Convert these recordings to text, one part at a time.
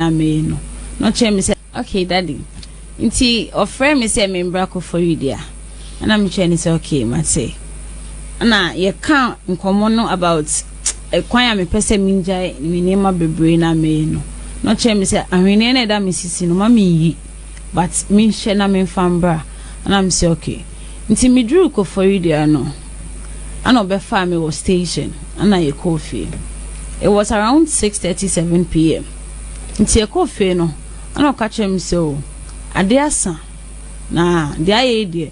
na meyɛ no, na ɔkyerɛɛ me sɛ, Okay, Daddy. Nti ɔfrɛɛ me sɛ membra Koforidua. Ɛna mekyerɛɛ no sɛ, Okay, mate. Ɛna yɛka nkɔmmɔ no about ɛkwan a mepɛ sɛ mengyae me nneɛma bebree na meyɛ no. Na ɔkyerɛɛ me sɛ ahweneɛ no ɛda me sisi no ma menyi, but menhyɛ na memfa mbra. Ɛna me sɛ, Okay. Nti meduruu Koforidua no, ɛna ɔbɛfaa me wɔ station ɛna yɛkɔɔ fie it was around six thirty seven pm nti yɛkɔɔ fie no ɛna ɔka kyerɛ me sɛ o adeɛ asa na deɛ ayɛ yi deɛ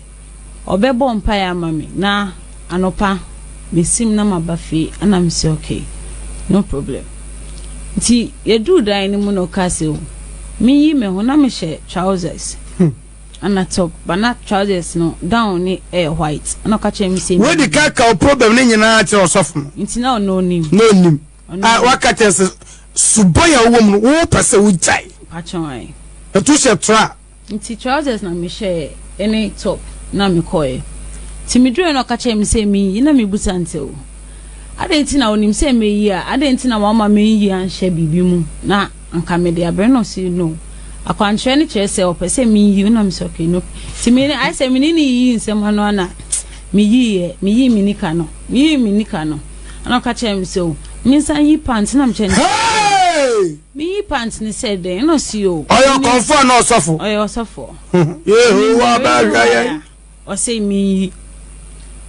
ɔbɛbɔ mpaeɛ ama me na anɔpa mesim na maba fie ɛna me sɛ okay no problem nti yɛduu dan no mu na ɔka sɛ o meyi me ho na mehyɛ trousers. Hmm. Ana top but na trousers no gown ne ɛyɛ white ɛna ɔka kyerɛ me sɛ. Wodi ka ka o problem ne nyinaa kyerɛ ɔsɔfo no. Nti na ɔno onim. Na onim. A waka kyerɛ sɛ subɔn a wowɔ mu no wopɛ sɛ wogyae. Pakyɛw ae. Na tu hyɛ tra. Nti trousers na mehyɛɛ ɛne top na mekɔɛ. Nti meduruɛ na ɔka kyerɛ me sɛ menyi na mebusa no sɛ o adɛn nti na onim sɛ mɛyi a adɛn nti na wama menyi anhyɛ biribi mu na. Anka mede abrɛ no ɔse no. Akwankyerɛ no kyerɛ sɛ ɔpɛ sɛ meyi no na mesɛ okay no. Nti me ayɛ sɛ mene ne yiyi nsɛm ano a na meyiiɛ. Meyii me nika no. Meyii me nika no. Ɛna ɔka kyerɛ me sɛ o mensan yi pant na mekyɛ no Hey! Meyi pant no sɛ dɛn na ɔse o. Ɔyɛ ɔkɔmfoɔ anaa ɔsɔfo? Ɔyɛ ɔsɔfoɔ. Yehowa bɛhwɛ yɛn. Ɔse menyi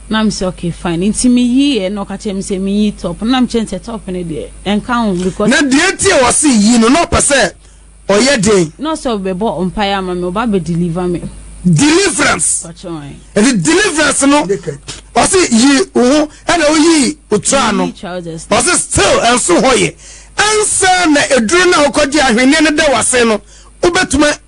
na mese ok fine nti meyi yɛ na ɔka kyerɛ me sɛ menyi top na mekyerɛ sɛ top no deɛ ɛnka ho because. Na deɛ nti a ɔse yi no na ɔpɛ sɛ ɔyɛ den. Na ɔse ɔbɛbɔ mpaeɛ ama me ɔba abɛ deliver me. Deliverance ɛti deliverance no ɔse yi wo ho ɛna woyi otraa no ɔse still ɛnso hɔ yɛ ɛnsa na eduro na wokɔgye ahweneɛ no da wasen no wobɛtuma.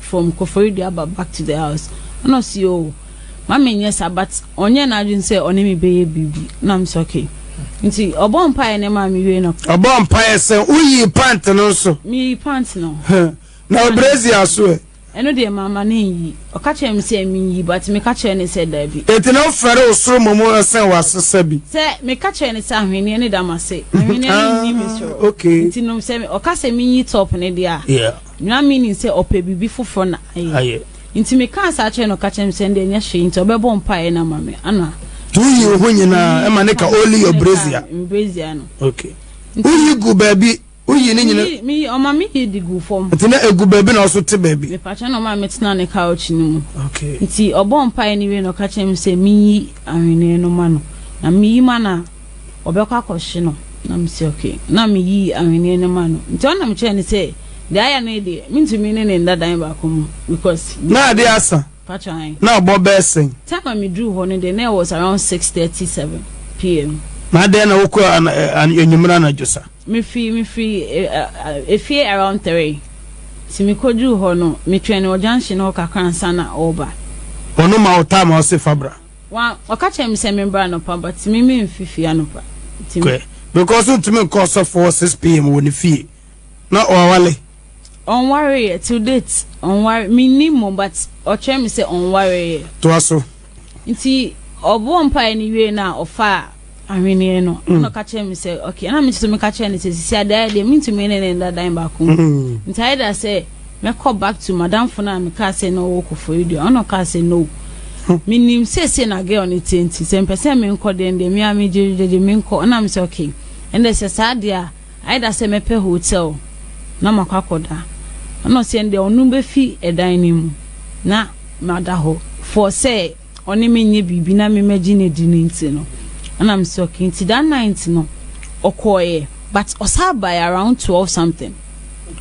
from Koforidua ba back to the house ɛna ɔsi o ma me nyɛ sa but ɔnyɛ n'adwene sɛ ɔne me bɛyɛ biribi na m sɛ okay nti ɔbɔ mpaeɛ ne maa me wie no ɔbɔ mpaeɛ sɛ woyi pant no nso meyi pant no na ɔbrɛzi aso ɛ ɛno deɛ mama ne nyi ɔka kyerɛ me sɛ menyi but meka kyerɛ ne sɛ daabi ɛti na wofɛre wo soro mmom ɛsɛn wasesa bi sɛ meka kyerɛ ne sɛ ahweneɛ ne da m'ase ahweneɛ ne nni me soro nti nom sɛ ɔka sɛ menyi top ne deɛ a Ná minim sɛ ɔpɛ biribi foforo na ayɛ. Enti mekaa saa kyerɛɛ no, ɔka kyerɛɛ me sɛ ɛnde ɛnyɛ hwee nti ɔbɛbɔ mpaeɛ no ama me. Ana. Tu yi wo ho nyinaa ma ne ka only your brazier. Me brazier no. Okay. Wo yi gu baabi, wo yi ne nyina. Me yi, ɔma me yi de gu fam. Nti na egu baabi na ɔso te baabi. Me pakyɛ na ɔma me tena ne couch no mu. Okay. Nti ɔbɔ mpaeɛ no wie na ɔka kyerɛ me sɛ me yi ahweneɛ no ma no. Na me yi ma no a. wɔbɛkɔ akɔhye no. Na mese okay. Na meyii ahweneɛ no ma no. Nti ɔno na mekyerɛɛ no sɛ, deɛ ayɛ no yi deɛ, mentumi ne no nda dan baako mu because. Na ade asa? Patrɔ ae. Na abɔ bɛyɛ sɛn? Time a meduruu hɔ no deɛ, na it was around six thirty seven PM. Na adɛn na wokɔ anwummere anadwo sa? Mefiri, mefiri efie around three. Nti mekɔduruu hɔ no, metwɛn no wɔ junction hɔ kakra ansa na ɔreba. Ɔno ma wo time a ɔse fa bra? Wa ɔka kyerɛ me sɛ me mbra anɔpa but me me nfi fie anɔpa nti me. Because ontumi nkɔ ɔsɔfo wɔ 6 pm wɔ ne fie na ɔawale. Ɔnware yɛ till date ɔnware me nnim mo but ɔkyerɛ me sɛ ɔnware yɛ. Toa so. Nti ɔbɔɔ mpaeɛ no wiee no a ɔfaa. ahweneɛ no mm. na ɔka kyerɛ me sɛ ok ɛna me nso meka kyerɛ no sɛ sisi adeɛ deɛ mentumi ne ne nda dan baako mu mm. nti ayɛ da sɛ mɛkɔ back to madamfo no a mekaa sɛ na ɔwɔ kɔfɔri deɛ ɔna ɔkaa sɛ no mm. menim sɛsɛ na girl no tie nti sɛ mpɛ sɛ menkɔ deɛ deɛ mea megyegyegye menkɔ ɛna me sɛ ok ɛnɛ sɛ saa deɛ a ayɛ da sɛ mɛpɛ hotel na makɔ akɔda ɛna ɔsɛ deɛ ɔno bɛfi ɛdan no mu na mada hɔ for sɛ ɔne me nyɛ biribi na me mɛgye no adi no nti no ɛna me sɛ okay nti that night no ɔkɔɔeɛ but ɔsaa baeɛ around twelve something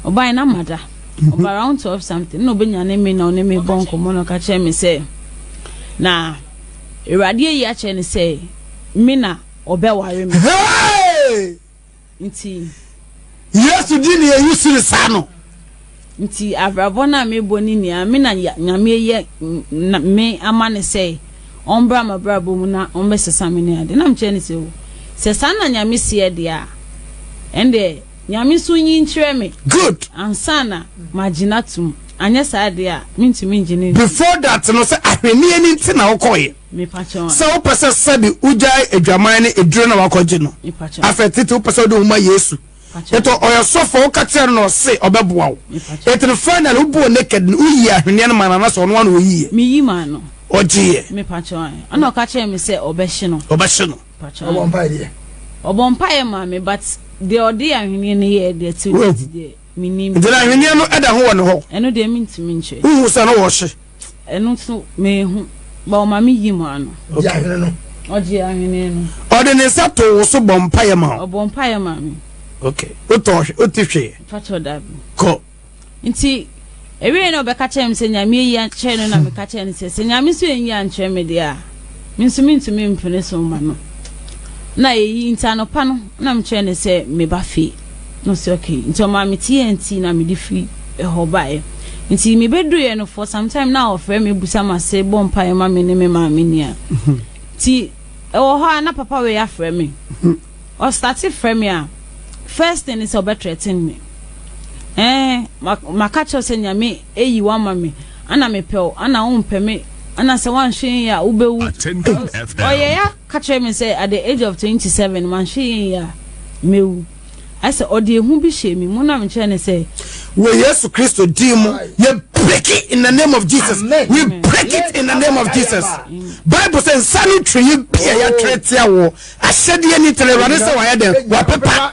ɔbaeɛ na mada ɔba around twelve something na ɔbɛnyane me na ɔne me bɔ nkɔmmɔ na ɔka kyerɛ me sɛ na awurade ayi akyerɛ ne sɛ me na ɔbɛware me. nti. Yesu di nea eyi siri saa no. Nti abrabɔ no a mebɔ ne nea me na Nyame yɛ me ama ne sɛ ɔmbra m'abrabɔ mu na ɔmbɛsesa me ne ade na mekyerɛ ne sɛ o sɛ saa na Nyame seɛ deɛ a ɛnde Nyame nso nyi nkyerɛ me good ansa na magye no atom anyɛ saa deɛ a mentumi ngye no before that no sɛ ahwenneɛ no nti na wokɔɔyɛ Sɛ wopɛ sɛ sɛde wogyae adwaman ne aduro na wakɔgye no afɛ tete wopɛ sɛ wode wo ma Yesu ɛtɔ ɔyɛ sɔfo a woka kyerɛ no na ɔse ɔbɛboa wo ɛtene finally wobɔɔ naked no woyii ahweneɛ no ma no anasɛ ɔno ano ɔyiiɛ meyi maa no ɔgyeeɛ ɛna ɔka kyerɛ me sɛ ɔbɛhye no ɔbɛhye no ɔbɔ mpaeɛ deɛ ɔbɔ mpaeɛ maa me but deɛ ɔde ahweneɛ no yɛɛ deɛ ti deɛ menim nti na ahweneɛ no ɛda ho wɔ ne hɔ ɛno deɛ mentumi nkyerɛ wohu sɛ no wɔhye Ɛno nso meehu, but ɔma me yii mu ano. Ɔgye ahwene no. Ɔgye ahwene no. Ɔde ne nsa too wo so bɔ mpaeɛ ma wo. Ɔbɔ mpaeɛ ma me. Okay. Wotɔ hwe, wote hwee? Mpakyɛw dabi. Kɔ. Nti ɛwieɛ na ɔbɛka kyerɛ me sɛ Nyame ayi akyerɛ no na meka kyerɛ no sɛ sɛ Nyame nso anyi ankyerɛ me deɛ a me nso mentumi mpene so mma no. Na ɛyi nti anɔpa no na mekyerɛ no sɛ meba fie. Na ɔse ok nti ɔmaa me tea and tea na mede firi hɔ baeɛ nti me bɛduruiɛ no for some time na ɔfrɛ me busa mase bɔ mpaeɛ ma me ne me maame nia nti ɛwɔ hɔ a na papa wei afrɛ me ɔstate frɛ me a first thing ne sɛ ɔbɛ threaten me eh maka kyerɛ sɛ nyame ɛyi wama me ana mepɛw ana wompɛ me ana sɛ woanhwɛ yi a wobɛwu ɔyɛ ya Ɔka kyerɛɛ me sɛ at the age of twenty seven manhwɛ yie anwie a, mɛwu. Ayɛ sɛ ɔde ehu bi hyɛɛ me mu na mekyerɛɛ no sɛ. Wɔ Yesu Kristo din mu, yɛ break it in the name of Jesus. We break it in the name of Jesus. Bible sɛ nsa no tweyi bi a yɛatwerɛ atia wo ahyɛdeɛ ni tena Awurade sɛ wayɛ dɛn? Wapepa.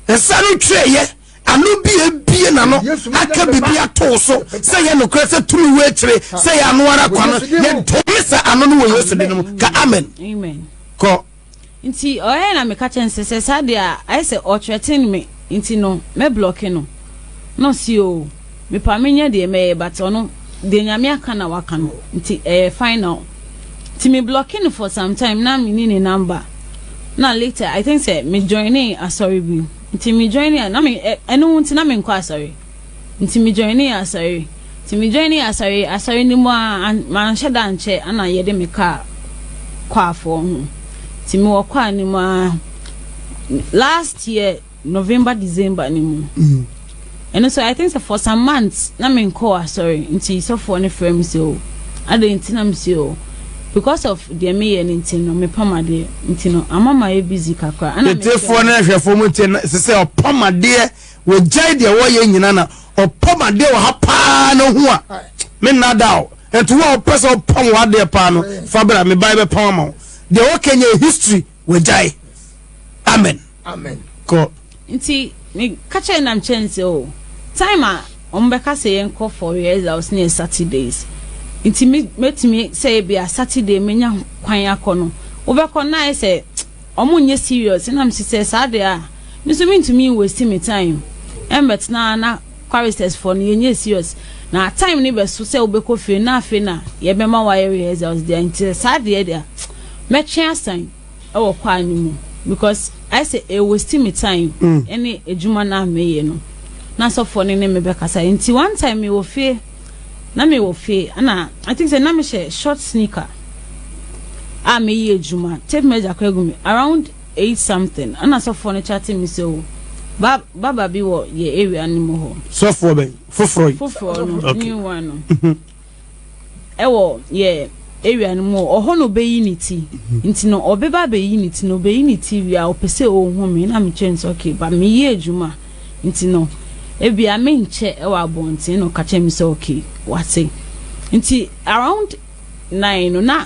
Nsa no tweeɛ. ano bi ebie n'ano aka biribi ato wo so sɛ yɛ nokorɛ sɛ tumi wɔ akyire sɛ yɛ ano ara kwa no yɛdome sɛ ano no wɔ yesu de no mu ka amen kɔ nti ɔyɛ na meka kyɛ nsɛ sɛ saa deɛ a ayɛ sɛ ɔtrɛten me nti no mɛblɔke no na ɔsi o mepa menyɛ deɛ mɛyɛ but ɔno deɛ nyame aka na waka no nti ɛyɛ final nti me blɔke no for some time na menni ne number na later i think sɛ me joine asɔre bi Nti me joinee a na me ɛno nti na me nkɔ asɔre nti me joinee asɔre nti me joinee asɔre asɔre no mu aa an manhyɛ da ankyɛ ana yɛde me kaa kwafoɔ ho nti me wɔ kwaa no mu aa last year November December no mu. Ɛno nso I think sɛ for some months na menkɔɔ asɔre nti sɔfoɔ no frɛ me sɛ o adɛn nti na mese o because of deɛ meyɛ no nti no mepam adeɛ nti no ama mayɛ busy kakra ɛna Tiefoɔ ne ahwɛfoɔ mo ntie na ɛsɛ sɛ ɔpam adeɛ wɔgyae deɛ wɔyɛ nyina na ɔpam adeɛ wɔ ha paa na hu a menna da o ɛnti wo a wopɛ sɛ wopam w'adeɛ paa no fa bra mebae bɛpam ama wo deɛ wɔka nyɛ history Wagyae. Amen. Amen. Kɔ. Nti me ka kyerɛ nam kyɛn sɛ o time a wɔn bɛka sɛ yɛn kɔ for rehearsals ne yɛ Saturdays. Nti me mɛtumi sɛ ebi a Saturday menya kwan akɔ no wobɛkɔ na ayɛ sɛ wɔn nyɛ serious na mesi sɛ saa deɛ a me nso mentumi nwɛsi me time ɛmbɛtena na Choristers foɔ no yɛnyɛ serious na time no bɛso sɛ wobɛkɔ fie na afei na yɛbɛma wayɛ rehearsals deɛ nti saa deɛ deɛ mɛtwe asan ɛwɔ kwaa no mu because ayɛ sɛ ɛyɛ waste me time mm. ɛne adwuma no a meyɛ no na sɔfoɔ no ne me bɛkasa nti one time mewɔ fie na mewɔ fie ɛna I think sɛ na mehyɛ short sneaker a meyi adwuma tape measure kɔ agu me around eight something ɛna sɔfoɔ no chatting me sɛ o ba baba bi wɔ yɛ area no mu hɔ. sɔfoɔ bɛn foforɔ yi. foforɔ no okay. new one no mhm. ɛwɔ yɛ area no mu ɔhɔ na ɔbɛyi ne ti mhm. nti no ɔbɛba abɛyi ne ti na ɔbɛyi ne ti wie a ɔpɛ sɛ ɔhu me na mekyɛ no sɛ okay ba meyɛ adwuma nti no ebia menkyɛ ɛwɔ abɔnten na ɔka kyɛ me sɛ okay wate nti around nine no na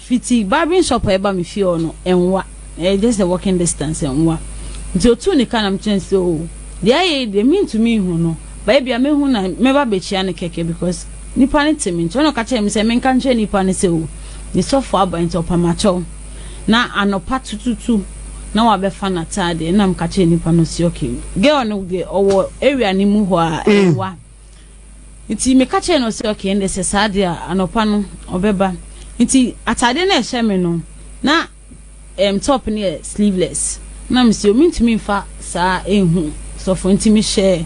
Fitsi barbering shop a ɛba me fie hɔ no, ɛnwa. Ɛyɛ just a walking distance, ɛnwa. Ntsi otuu ne ka na mekyerɛɛ no sɛ, oh, deɛ ayɛ yi deɛ menntumi nnhu no, but ebia mɛhu na mɛba abɛkyia no kɛkɛ because nnipa no te me nkyɛn. Ɛnna ɔka kyerɛɛ me sɛ menka nkyerɛ nnipa no sɛ, oh, me sɔfo aba nti ɔpɛ makyɛw. Na anɔpa tututu na wabɛfa n'ataadeɛ. Ɛnna meka kyerɛɛ nnipa no sɛ, okay, girl no deɛ ɔwɔ area no mu hɔ a, ɛnwa. Nti meka kyerɛɛ no sɛ, okay, ɛnde sɛ saa deɛ a, anɔpa no ɔbɛba. Nti ataadeɛ no a ɛhyɛ me no, na um, top no yɛ sleeveless. Na mesi o, mentumi mfa saa ɛnhu sɔfo, nti mehyɛɛ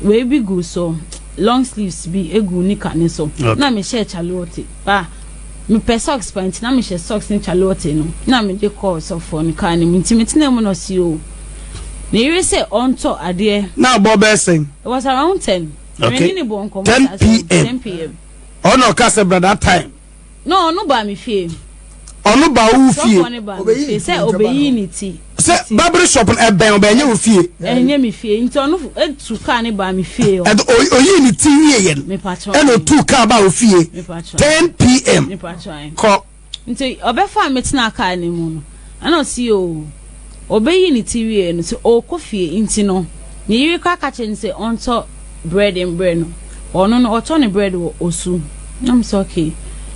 wei bi gu so, long sleeves bi egu nika no so. Okay. Na mehyɛɛ calotte. Ba, Mepɛ socks paa nti na mehyɛ socks ne calotte no na mede kɔ ɔsɔfoɔ no kaa no mu nti metenaa mu na ɔse oo ne yere sɛ ɔntɔ adeɛ. Na abɔ bɛyɛ sɛn? It was around ten. Okay. Mene ne bɔ nkɔmɔ saa so. 10 pm. 10 pm. Ɔna ɔka sɛ bra that time. No, ɔno baa me fie. Ɔno baa wo fie. Sɔfoɔ no baa me fie sɛ ɔbɛyi ne ti. sɛ babere shop no ɛbɛn ɔbɛn ɛnyɛ wɔ fie. ɛnyɛ mi fie nti ɔno etu kaa ne baa mi fie yɛ. ɛdi oyi oyi ne ti wie yɛn. mipatwa ɛna otu kaa baa o fie. mipatwa ten pm. mipatwa yɛn. kɔ. nti ɔbɛfa mi tena kaa ne mu no ɛna ɔsi o ɔbɛyi ne ti wie no sɛ ɔkɔ fie nti no ne yiri kora kakyɛ ne sɛ ɔntɔ bread mbrɛ no ɔno no ɔtɔ ne bread wɔ osu nam sɛ okay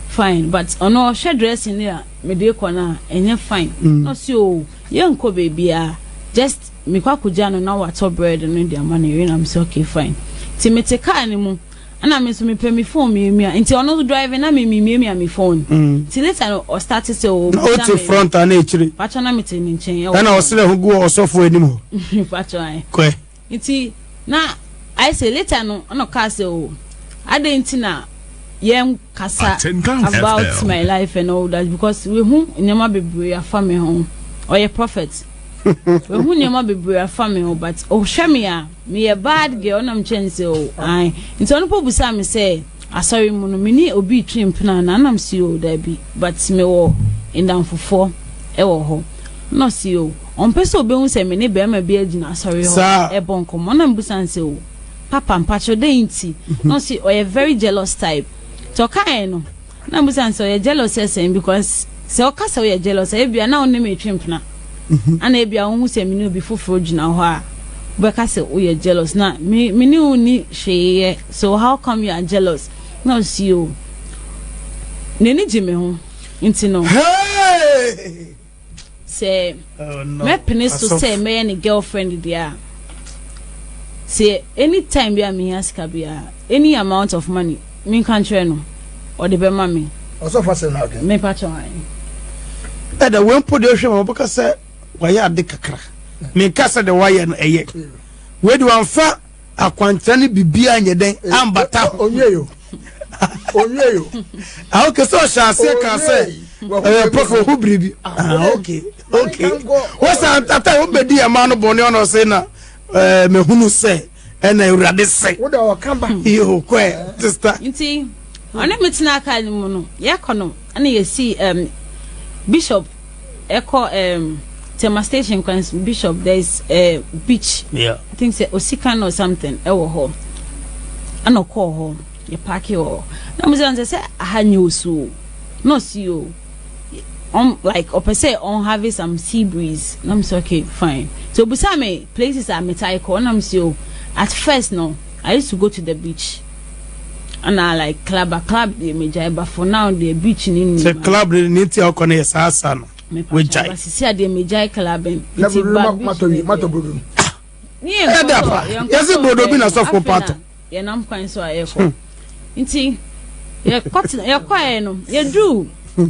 fine but ɔno ɔhwɛ dressing ne a. Me de kɔ no a ɛnyɛ fine na ɔse oo yɛnkɔ baabiaa just mekɔ akɔgya no na watɔ bread no de ama ne yere na mese okay fine nti mete car no mu ɛna me nso mepɛ me phone miamia nti ɔno nso driving na me memiamia me phone nti later no ɔstarte sɛ oo na ɔte front a na akyire patwɔ na mete ne nkyɛn ɛwɔ ɛna ɔsrɛ ho gu ɔsɔfo anim hɔ patwɔ ae kɔɛ Ntsi na ayɛ sɛ later no nna ɔkaa sɛ oh adɛn ntsi na yɛnnkasa about my life and all that because wehu nneɛma bebree afa me ho ɔyɛ prophet wehu nneɛma bebree afa me ho but ɔhwɛ me a meyɛ bad girl na mekyɛ ne sɛ oh ae nti ɔno po busaa me sɛ asɔre mu no mene obi twe mpena na anam si o daabi but mewɔ ndamfofoɔ ɛwɔ hɔ na ɔsi o Ɔmpɛ sɛ obehu sɛ me ne barima bi agyina asɔre hɔ rebɔ nkɔmmɔ. Na mibisa no sɛ, Oh, papa, mpakyɛw, dɛn nti? Na ɔse ɔyɛ very jealous type. Nti ɔkae no, na mibisa no sɛ, Ɔyɛ jealous sɛ sɛn? Because sɛ ɔka sɛ ɔyɛ jealous a, ebia na wo ne me retwe mpena. Ana ebia wuhu sɛ me ne obi foforo gyina hɔ a, wobɛka sɛ woyɛ jealous? Na me, me ne wo nni hwee yɛ, so how come you are jealous? Na ɔse, Oh, n'ani gye me ho, nti no. Hey! Sɛ mɛpene so sɛ mɛyɛ ne girlfriend deɛ a, sɛ any time bi a mehia sika biara, any amount of money, menka nkyerɛ no, ɔde bɛma me. Ɔsɔfo asɛm na ɔka. Mepa kyɛ wɔn. Ɛda wɔn mpo deɛ ɔhwɛ ma wɔbɛka sɛ wɔayɛ ade kakra. Menka sɛ deɛ wɔayɛ no ɛyɛ. Wei de wɔamfa. akwankyerɛ ne biribiara nyɛ dɛn eh, ambata ho onyeyo onyeyo ah okay so ɔhyɛ aseɛ kan sɛ ɛyɛ pɔfo ho biribi ah, ah okay okay wɔsan tata wɔn bɛdi ɛmaa no bɔnne ɔna ɔsɛ na ɛɛ eh, mɛhunu sɛ ɛna awurade sɛ yoo kɔɛ sista. nti ɔne mi tena aka ne mu no yɛkɔ no ɛna yɛsi bishop. Ɛkɔ um, Tema station kwan Bishop there is a beach. Yeah. I think sɛ Osikan or something ɛwɔ hɔ. Ɛna ɔkɔɔ hɔ yɛ paaki wɔ hɔ. Na mo sɛ ɔnsɛ sɛ aha nyɛ osu o. Na ɔsi o. Um, like ɔpɛ sɛ ɔn have some sea breeze. Na mo sɛ okay fine. So obusa me places a metaa kɔ. Na mo sɛ o. At first no, I used to go to the beach. ɛna like club a club deɛ megyae ba for now deɛ beach ne nnim sɛ club ne ne ti a ɔkɔ no yɛ saa sa no wagyae sisi a deɛ megyae club nti ba beach ne deɛ ne yɛ nkɔ so yɛse brodo bi na sɔfo pato yɛnam kwan so a yɛkɔ hmm. nti yɛkɔɛ no yɛduu hmm.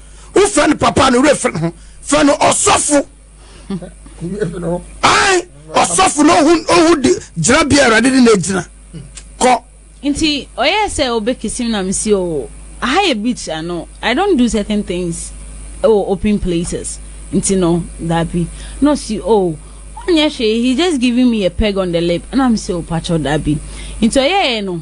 wofɛ no papa no werɛ fɛ no ho fɛ no ɔsɔfo ae ɔsɔfo no ohu ohu de gyina bia awurade de na agyina kɔ nti ɔyɛ sɛ ɔbɛkisim na mesi o aha yɛ beach ano i don't do certain things ɛwɔ open places nti no dabi na ɔsi o oh, ɔnyɛ hwee he just giving me a peg on the lip na mesi o oh, patwɔ dabi nti ɔyɛɛ no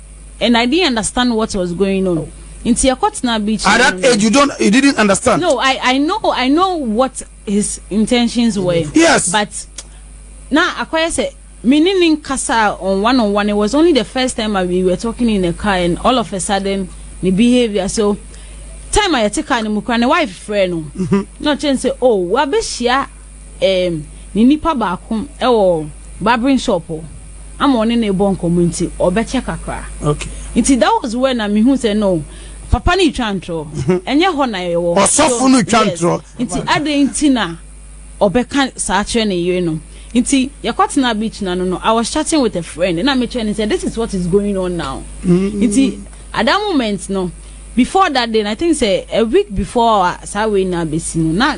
And I didn't understand what was going on. Nti yɛkɔ tena beach. At that age, you don't, you didn't understand. No, I, I know, I know what his intentions were. Yes. But na akɔyɛ sɛ me ne ne nkasa on one on one. It was only the first time I, we were talking in the car, and all of a sudden, the behavior. So time I yɛte car no mu kura ne wife frɛ no. Mm-hmm. Na ɔkyɛn sɛ, oh, wabehyia. ɛɛm, ne nipa baako wɔ barbering shop ama ɔne no rebɔ nkɔmmɔ nti ɔbɛkyɛ kakra. Okay. Nti that was when na mehu sɛ no papa no retwa ntorɔ. Mhm. Ɛnyɛ hɔ na yɛwɔ. Ɔsɔfo no twa ntorɔ. Nti adɛn nti na ɔbɛka saa kyerɛ ne yere no. Nti yɛkɔtena beach na no no I was chatting with a friend na mekyerɛ ne sɛ this is what is going on now. Mm-hmm. Nti at that moment no before that day I think sɛ a week before saa wei na bɛsi no na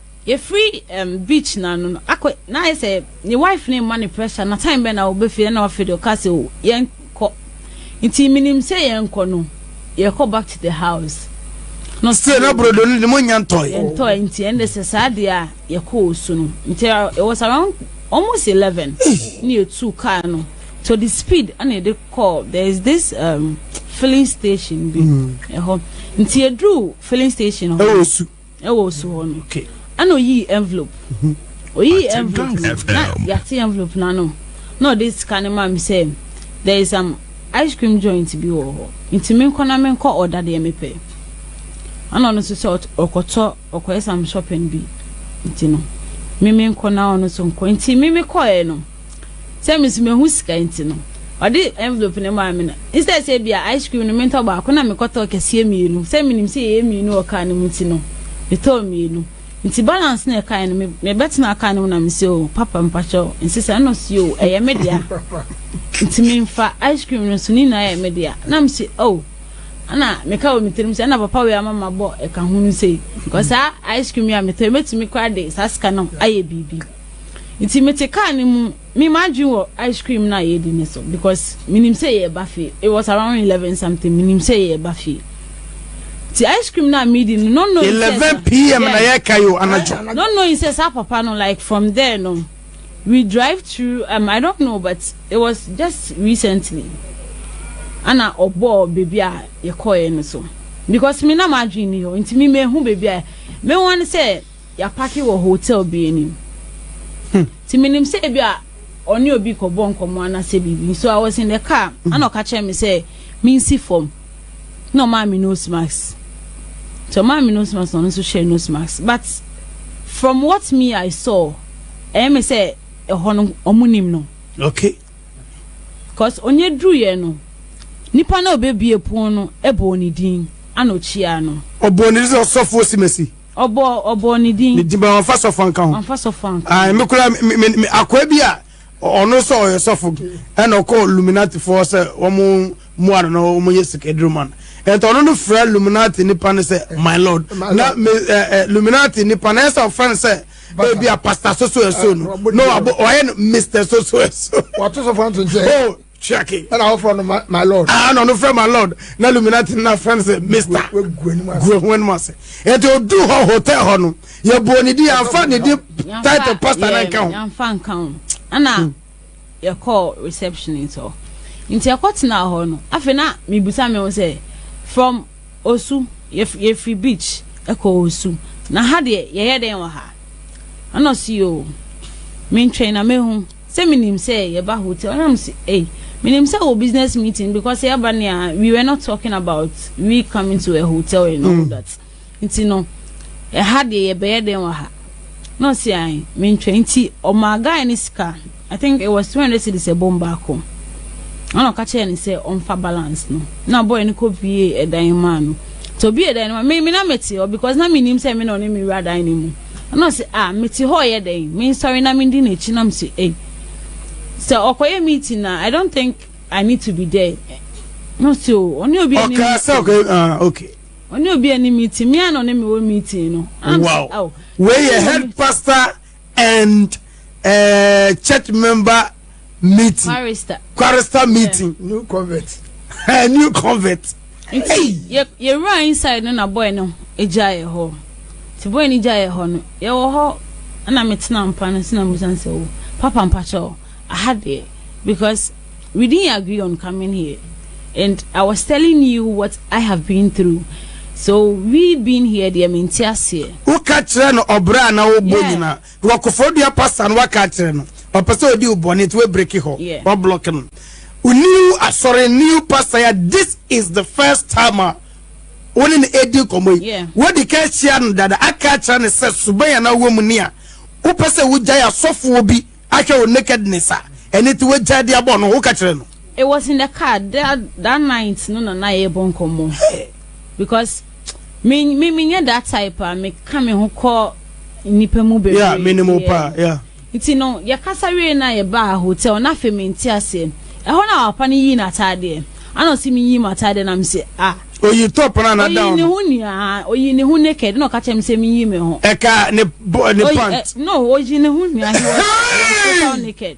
Yɛfiri ɛɛm beach no ano no akɔ na ayɛ sɛ ne wife no rema no pressure na time bɛn na wɔbɛ fie na wafei de ɔka sɛ o yɛnkɔ nti menim sɛ yɛnkɔ no yɛkɔ back to the house no still na brodo no de mo nya ntɔe yɛntɔe nti ɛnde sɛ saa deɛ a yɛkɔ wɔ su no nti it was around almost 11 ne yɛtu car no to the speed ɛna yɛde call there is this um, filling station bi ɛhɔ mm. nti yɛduru filling station hɔ ɛwɔ su ɛwɔ osu hɔ no ɛna oyii envelope oyii envelope no na yate envelope no ano na ɔde sika no maa me sɛ there is some ice cream joint bi wɔ hɔ nti menkɔ na menkɔ ɔda deɛ mepɛ ɛna ɔno nso sɛ ɔkɔtɔ ɔkɔyɛ some shopping bi nti no meme nkɔ na ɔno nso nkɔ nti meme kɔɛ no Sɛ me nso mehu sika nti no, ɔde envelope no maa me na instead sɛ ebia ice cream no mentɔ baako na mekɔtɔ kɛseɛ mmienu. Sɛ menim sɛ yɛyɛ mmienu wɔ kaa no mu nti no, metɔɔ mmienu. Nti balance na ɛkae no, mebɛtena kaa no mu na mesɛ o, oh, papa mpakyɛ o, nti sɛ ɛno si o, ɛyɛ me dea. Nti memfa ice cream no nso ne nyinaa yɛ me dea. Na mesɛ o, oh, ɛna meka wɔ me tirim sɛ ɛna papa wei ama mabɔ ɛka ho no sei. Because saa ice cream yi a metɔ, mɛtumi koraa de saa sika no ayɛ biribi. Nti me te car no mu, me m'adwene wɔ ice cream na yɛdi no so because menim sɛ yɛreba fie. It was around eleven something, menim sɛ yɛreba fie. Nti ice cream na medi no, no knowing sɛ. Eleven pm na yɛka yo anadwo. No knowing sɛ saa papa no like from there no, we drive through, um, I don't know but it was just recently. Ana ɔbɔɔ baby a yɛkɔɛ no so because me na m'adwene ni hɔ, nti me mehu baby a, me wɔn sɛ. Yɛapake wɔ hotel bi anim. Hmm. Nti menim sɛ ebi a ɔne obi kɔbɔ nkɔmmɔ anaasɛ biribi. So I was in the car. Hmm. Ana ɔka kyerɛ me sɛ mensi fam. Na ɔmaa me nose mask. Nti ɔmaa me nose mask na ɔno nso hyɛɛ nose mask. But from what me I saw, ɛyɛ me sɛ ɛhɔ no ɔmo nim no. Okay. Cause onye duru yɛ no, nipa na obebie pon no ɛbɔ ne din ana okyia no. Ɔbɔ ne sɛ ɔsɔfo osimesi. Ɔbɔ ɔbɔ ne din. Ne din bɛ wɔnfa sɔfo anka ho. Wɔnfa sɔfo anka ho. Ayi mi kura mi mi mi akoa bi a ɔno sɛ ɔyɛ sɔfo ɛna ɔkɔ luminati fo sɛ wɔn mu ano na wɔn yɛ sika aduru ma no ɛnti ɔno no fira luminati nipa no sɛ my lord na mi ɛ ɛ luminati nipa no ɛsɛ ɔfɛn sɛ ebi a pastor soso ɛso no na ɔyɛ no mister soso ɛso. wɔato sɔfo anto nkyɛn. tua ke. ɛna wɔfrɛ no my lord ah, ɛna ɔno frɛ my lord na luminati no afrɛ no sɛ mr guahu anim ase ɛti ɔdu hɔ hotel hɔ no yɛbɔɔ ne din yɛamfa ne din title pastor no nka ho yɛamfa nka ho ɛna hmm. yɛkɔɔ reception nti hɔ nti ɛkɔ tena hɔ no afei na mebusa me ho sɛ from osu yɛfiri beach ɛkɔ osu na ha deɛ yɛyɛ dɛn wɔ ha ɛna ɔsi o mentwɛn na mehu Sɛ me nim sɛ yɛ ba hotel a na me se ei me nim sɛ wɔ business meeting because sɛ yɛ ba nea we were not talking about we coming to a hotel and all mm. that nti no ɛha deɛ yɛ bɛyɛ dɛn wɔ ha na ɔsi ayi me ntwa nti ɔmaa guy ne sika i think it was two hundred cedis ɛbom baako ɛna ɔka kyerɛ ne sɛ ɔnfa balance no na boy no kɔ pie ɛdan maa no nti obi ɛdan no ma me me na mɛte hɔ because na me nim sɛ me na ɔne me wura dan no mu. Ɛna ɔse, ah, mete hɔ yɛ dɛn? Mensɔre na mendi n'akyi na mese, ei, sɛ ɔkɔyɛ meeting a, I don't think I need to be there. Na ɔse, o, oh, ɔne obi ani meeting. Ɔkaa sɛ, ah, okay. Ɔne obi ani meeting, me a na ɔne me wɔ meeting no. Wow. Oh, Wei yɛ head pastor and uh, church member meeting quarista meeting new convert eh, new convert nti yɛwura inside no na boy no gya yɛ hɔ nti boy no gya yɛ hɔ no yɛwɔ hɔ ɛna metena mpa no nti na musan sɛ wo oh, papa mpakyɛw aha deɛ because we didn't agree on coming here and i was telling you what i have been through so we being here deɛ mente aseɛ woka kyerɛ no ɔbrɛ a na wobɔ nyina Wɔ kofrodua pastor no waka akyerɛ no ɔpɛ sɛ odi wo bɔne nti wabreki hɔ yeah. wablɔk no new asɔre new pastor ya this is the first time a wo ne no ɛdi nkɔmmɔ yi yeah. wodi ka ahyia no dada aka akyerɛ no sɛ suban a na wɔ mu ni a wopɛ sɛ wogyae asɔfoɔ bi ahwɛ wo nakedness a ɛne ti wagyae de abɔ no woka kyerɛ no it was in the car that, that night no na na yɛbɔ nkɔmmɔ because Me me me nyɛ that type a me ka me ho kɔ nipa mu bebree. Yeah, me ne mo pa, yeah. Nti no, yɛ kasa wie na yɛ ba hotel na afei me nti aseɛ. Ɛhɔ na papa no yii n'ataadeɛ. Ana ɔsi me yii m'ataadeɛ na me se ah. Oyi top na na down. Oyi ne ho nia, oyi ne ho naked na ɔka kyerɛ me se me yi me ho. Ɛka ne ne pant. Eh, no, oyi ne ho nia, he was total naked.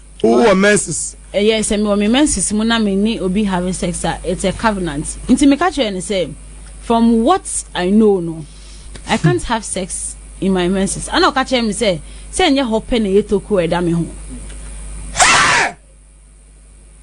Wowɔ menses? Ɛyɛ, sɛ mewɔ me menses mu na me ne obi have sex a, it's a covenant. Nti me ka kyerɛɛ no sɛ, from what I know no, I can't have sex in my menses. Ana ɔka kyerɛɛ me sɛ, sɛ ɛnyɛ hɔ pɛ na ɛyɛ tokuro a ɛda me ho. Hey!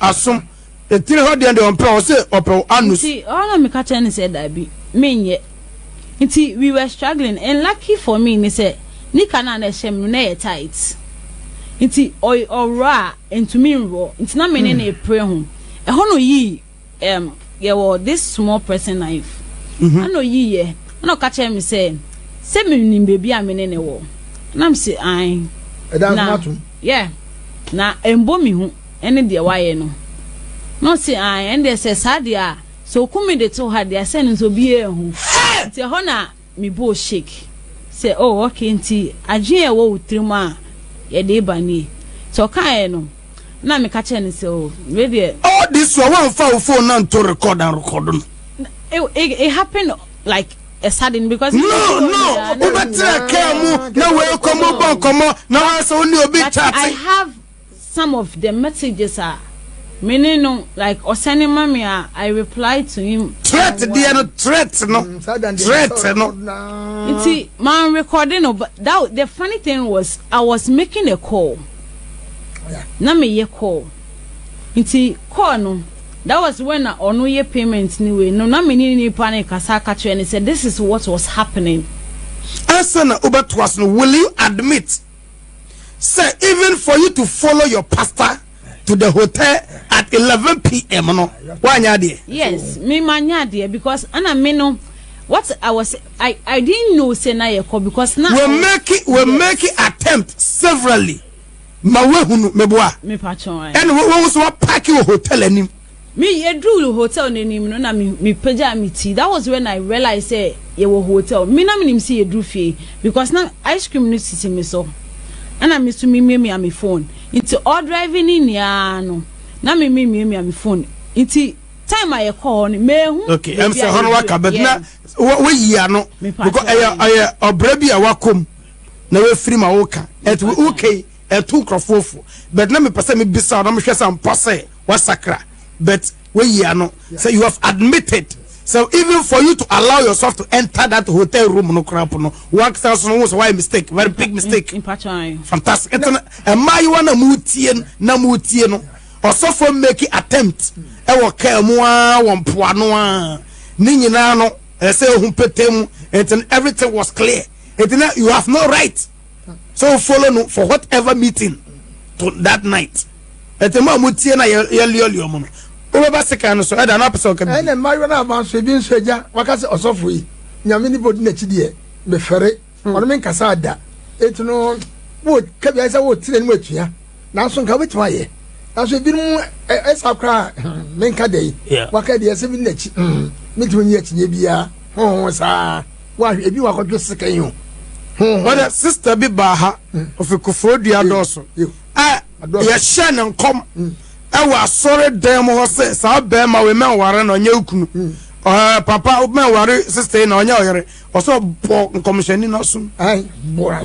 asom. Ne tiri hɔ deɛn deɛ ɔmpɛ, ɔse ɔpɛ wo anus. Nti ɔhɔ na meka kyerɛ no sɛ daabi, menyɛ. Nti we were struggling and lucky for me ne sɛ nika no a na ɛhyɛ me no na ɛyɛ tight. Nti ɔy ɔworɔ a ɛntumi nworɔ nti na me ne no repre ho. Ɛhɔ na ɔyii ɛɛm yɛwɔ this small pressing knife ɛna ɔyiiɛ ɛna ɔka kyerɛɛ me sɛ sɛ menim baabi a me ne no wɔ. Ɛna mese ae. Ɛda nso na atom. Yeah na ɛmbɔ me hu. ɛne deɛ wayɛ no. Na ɔse, Aane, ɛno deɛ sɛ saa deɛ a, sɛ ɔku me de to ha deɛ a, sɛ ɛno nso obiara anhu. Nti ɛhɔ na me bɔɔ shake sɛ, Oh, okay, nti adwene a ɛwɔ wo tirim a yɛde reba nie. Nti ɔkaeɛ no, na meka kyerɛɛ no sɛ, Oh, wei deɛ. All this while woamfa wo phone no anto record anrekɔdo no? No, it, it happened like a sudden because. No, no, Ɛhɔ nyinaa na wobɛtena kaa mu na woakɔ mu bɔ nkɔmmɔ na woayɛ sɛ wo ne obi But I chat. have Some of the messages a me ne no like ɔsɛne ma me a I reply to him. Threat deɛ no threat no threat no. Nti man recording no but that the funny thing was I was making a call na me yɛ call nti call no that was when na ɔno yɛ payment ni wei no na me ne nipa no kasa aka kyerɛ ne sɛ this is what was happening. Ansa na wobɛtoa so no will you admit. sɛ even for you to follow your pastor to the hotel at eleven pm no wanyɛ adeɛ. yes me ma nyɛ adeɛ because ɛna me no what I was I I didn't know sɛ na yɛ kɔ because na. we make it we make it attempt severally ma wahunu meboa. me pa kyɛn. ɛna wɔn nso wa park wɔ hotel anim. Me yɛduruu hotel no anim no na me me pagyaa me ti that was when I realize sɛ yɛwɔ hotel me na menim sɛ yɛduru fie because na ice cream no sisi me so ɛna me so memiamia me phone nti ɔdrive ne nyinaa no na me memiamia me phone nti time a yɛkɔ hɔ no mehu okay ɛm sɛ hɔ no waka but na woyi ano because ɛyɛ ɔbrɛ bi a wakɔm na wafiri ma woka ɛti wokei Ɛto nkurɔfoɔ fo but na mepɛ sɛ mebisa wo na mehwɛ sɛ ampa sɛ wasakra but wayi ano sɛ you have admitted sɛ even for you to allow yourself to enter that hotel room no koraa po no wankasa nso no wo sɛ wayɛ mistake very big mistake fantastic nti no mmaayewa na motie na motie no ɔsɔfoɔ make attempt ɛwɔ kaa mu a wɔ mpoano a ne nyinaa no ɛsɛ ehu pete mu nti everything was clear nti na you have no right so o follow no for whatever meeting to that night ɛtɛ mu a mo tie na yɛ liɔliɔ mo no wobɛba sekan no so ɛda na apɛsɛ ɔka bi. ɛnna mmaayewa no aba nso ebi nso agya waka sɛ ɔsɔfo yi nyame ne bodi n'akyi deɛ mefɛre hmm. ɔno me nkasa ada eti no wo kabi ayɛ sɛ wo tiri anim atua nanso nka wobɛtumi ayɛ nanso ebinom ɛsa koraa hmm, menka dɛ waka deɛ ɛsɛ bi n'akyi hmm, metumi nyi akyinyɛ biara ho ho saa Wahwɛ ebi wɔ akɔdwe sika yi ho. Wɔde sista bi baa ha ofi kofoɔ dua dɔɔso a yɛhyɛ ne nkɔm ɛwɔ asɔre dan mu hɔ sɛ saa bɛrima wei mɛnware na ɔnyɛ okunu ɛɛ papa mɛnware sista yi na ɔnyɛ ɔyere ɔsɛ ɔbɔ nkɔmhyɛni n'asom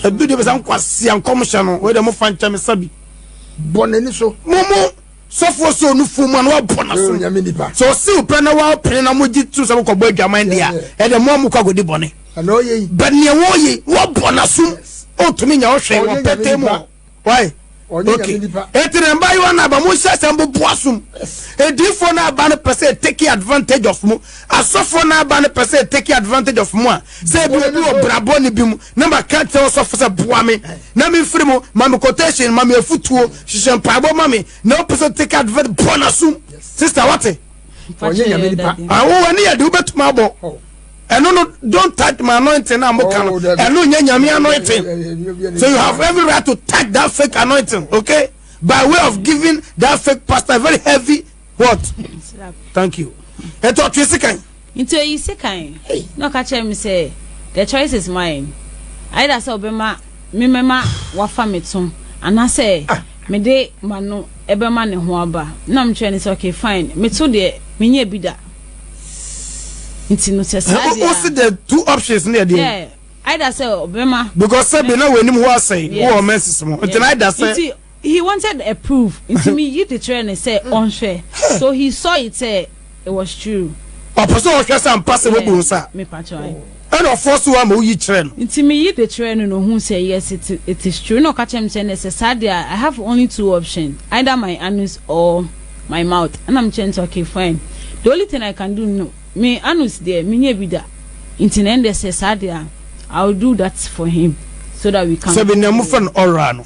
ebi de bɛ sɛ nkwasia nkɔmhyɛ no wɔde mo fa nkyɛn mi sabi bɔ n'ani so mo mo. Sɔfoɔ sɛ ɔnu fuo mu a na wabɔ n'asom. Sɛ ɔsew pɛ na wapene na mogye to sɛ mokɔbɔ adwaman deɛ a, ɛdeɛ mo a mokɔ akɔdi bɔne. But neɛ wɔyei, wabɔ n'asom. Ɔntumi nya ɔhwɛ wɔ pɛtɛ mu. Why? Okay. Eti na mbayewa na aba mo nhyɛ sɛ mbobo asom. Ediifoɔ na aba no pɛ sɛ take advantage of mo. Asɔfoɔ no aba no pɛ sɛ take advantage of mo a sɛ ebi obi wɔ bra bɔne bi mu na ma ka kyerɛ ɔsɔfo sɛ boa me na me mfiri mu ma me quotation ma me afutuo hyehyɛ mpaebɔ ma me na wopɛ sɛ take advantage bɔ na sum sister wate ɔnyɛ nyame nipa awo wani yɛ de wobɛtumi abɔ ɛno no don't touch my anointing na mo ka no ɛno nyɛ nyame anointing so you have every right to touch that fake anointing okay by way of giving that fake pastor very heavy what thank you ɛti ɔtwe sekan nti oyi sekan na ɔka kyerɛ me sɛ the choice is mine either sɛ ɔbɛma memɛma wafa me to anaasɛ ah. mede ma no ɛbɛma ne ho aba na mekyerɛ ne sɛ okay fine meto deɛ menyɛ bi da nti no sɛ saa deɛ o si the two options ne ɛdeɛ either sɛ ɔbɛma because sɛ bi na wɔ anim hɔ asɛe wɔ ɔmɛnsis mu nti na ɛda sɛ He wanted a proof, nti me yi de kyerɛɛ no sɛ ɔnhwɛ, so he saw it sɛ it was true. Ɔpɛ sɛ ɔhwɛ sɛ ampa sɛ wabu wo nsa, ɛna ɔforce wo ama woyi kyerɛɛ no. Nti me yi de kyerɛɛ no na ohuu sɛ yes it, it is true, ɛna ɔka kyerɛɛ me sɛ nɛ sɛ saa deɛ a I have only two options, either my anus or my mouth, ɛna me kyerɛɛ no sɛ okay fine, the only thing I can do no, me anus deɛ me nyɛɛ bi da, nti na ɛndɛ sɛ saa deɛ a I will do that for him so that we can. Sɛ me nɛɛmo fɛ no ɔwraa no.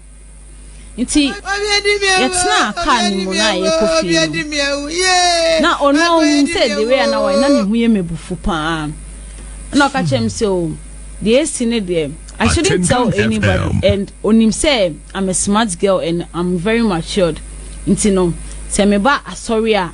Nti yɛtenaa kaa no mu na yɛkɔ fie no, na ɔno a ɔhun sɛ the way a na wayɛ na ne ho yɛ m'abufu paa, ɛna ɔka kyerɛɛ me sɛ, oh, deɛ esi ne deɛ, I shouldn't tell anybody and onim sɛ I'm a smart girl and I'm very matured, nti no, sɛ meba asɔre a,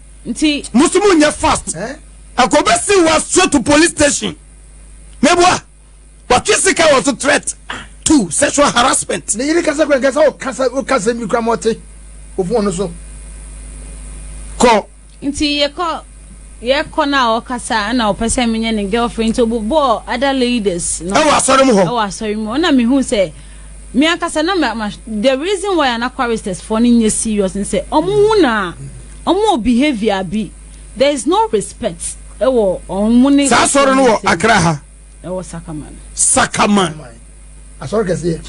nti. Mo nso mo nyɛ fast. Anka obe si wa straight to police station. Mebua. Watwe sika wɔ so threat to sexual harassment. Ne yere kasa kura nkasa o kasa o kasa mi kura mɔte o fun ɔno so. Kɔ. Nti yɛ kɔ yɛ kɔ na ɔkasa ɛna ɔpɛ sɛ menyɛ ne girlfriend nti obobɔ other ladies no. Ɛwɔ asɔre mu hɔ. Ɛwɔ asɔre mu hɔ na mehu sɛ. Me ankasa na ma the reason why ana choristers for no nyɛ serious ne sɛ ɔmo hu na ɔmo wɔ behaviour bi there is no respect ɛwɔ ɔmo ne saa sɔre no wɔ akra ha ɛwɔ sakaman sakaman asɔre kɛseɛ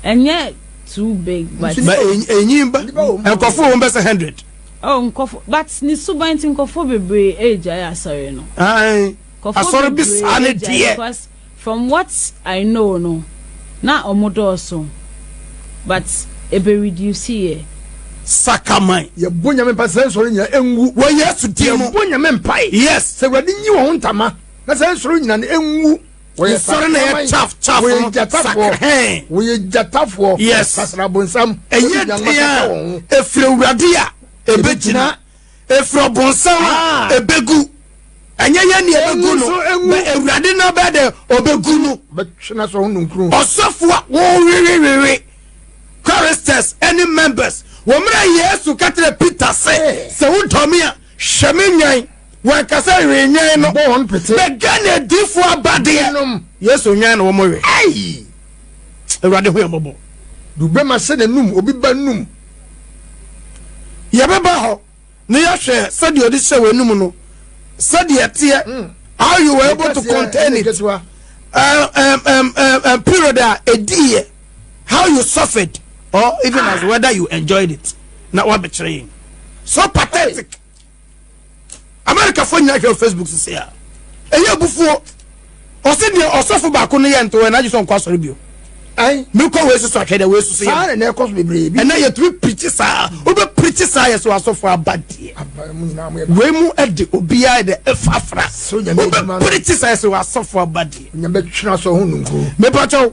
ɛnyɛ too big but ma ɛnyin ba nkɔfo wɔn bɛsɛ hundred oh nkɔfo but ne suban ti nkɔfo bebree ɛgya yɛ asɔre no asɔre bi saa ne deɛ From what I know no na ɔmo dɔɔso but ɛbɛ reduce yɛ. Sakraman. Yɛbɔ Nyame mpae sɛ saa nsɔre nyina ɛnwu wɔ Yesu din mu. Yɛbɔ Nyame mpae. Yes. Sɛ Awurade nyi wɔn ho ntama na saa nsɔre nyina no ɛnwu. Wɔyɛ sakraman. Nsɔre na ɛyɛ chaff chaff no. Wɔyɛ gyatafoɔ. Sakrhɛn. Wɔyɛ gyatafoɔ. Yes. Sasra abonsam. Ɛyɛ den a ɛfiri Awurade a ɛbɛgyina. Efiri ɔbonsam a ebegu. Ɛnyɛ yɛn na ebegu no, bɛ Awurade na bɛ de obegu no. Bɛtwe n'asɔ ho nnunkuru. Ɔsɔfo a wɔrewewewe choristers ne members wɔ mmerɛ a Yesu ka kyerɛɛ Peter sɛ, Sɛ wodɔ me a, hwɛ me nnwan. Wɔanka sɛ we nnwan no, Bɔ wɔn pete. bɛ Ghana adiyifoɔ abadeɛ. Nom. Yesu nnwan na wɔwe. Ei! Awurade hu yɛn mmɔbɔ. Dubema hyɛ n'anum, obi ba anum. Yɛbɛba hɔ na yɛahwɛ sɛdeɛ ɔde hyɛ w'anum no sɛdeɛ ɛteɛ hmm. how you were able to contain it uh, um, um, um, um, period a ɛdiiɛ how you suffered or even as whether you enjoyed it na wabɛkyerɛ yɛn so pathetic amerikafoɔ nyina hwɛ facebook sese a ɛyɛ abufuo ɔse deɛ ɔsɔfo baako no yɛ nto ɛna agye sɛ ɔnkɔ asɔre bio mekɔ wei soso ahwɛ dɛ wei soso yɛ ɛna ɛkɔ so bebree bi ɛna yɛtumi pirikyi saa wobɛ pirikyi saa yɛ so asɔfo aba deɛ wei mu ɛde obiara de ɛfafra wobɛ pirikyi saa yɛ so asɔfo aba deɛ mepatwɛw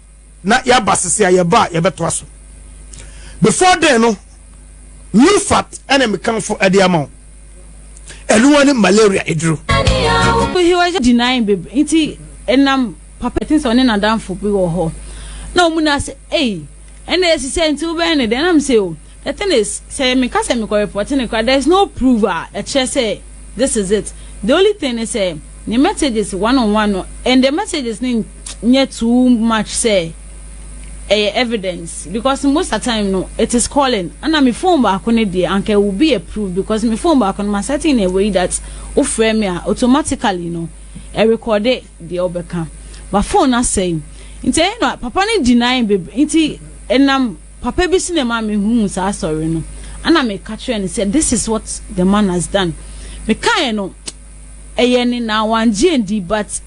na yɛaba sese a yɛba a yɛbɛtoa so before then no new fat ɛna mekanfo ɛde ama wo ɛnoa ne malaria eduro. he was just denying babe nti ɛnam papa ɛtin sɛ ɔne nadamfo bi wɔ hɔ na ɔmu na sɛ ei ɛna ɛsisɛ nti wobɛn ne dɛn nam sɛ o The thing is, sɛ meka sɛ mekɔ report no koraa, there is no proof a ɛkyerɛ sɛ this is it. The only thing ne sɛ, ne messages one on one no, and the messages no nyɛ too much sɛ ɛyɛ evidence because most of the time no, it is calling. Ɛna me phone baako no deɛ, anka it will be a proof because me phone baako no, ma setting in a way that wofrɛ me a, automatically no, ɛrekɔde deɛ wobɛka. But phone no asɛe. Nti ɛyɛ no a, papa no deny bebree. Nti ɛnam. Papa bi so na ɛmaa mehuu saa asɔre no. Ɛna meka kyerɛɛ no sɛ, This is what the man has done. Mekaeɛ no, ɛyɛ ne na wangye andi but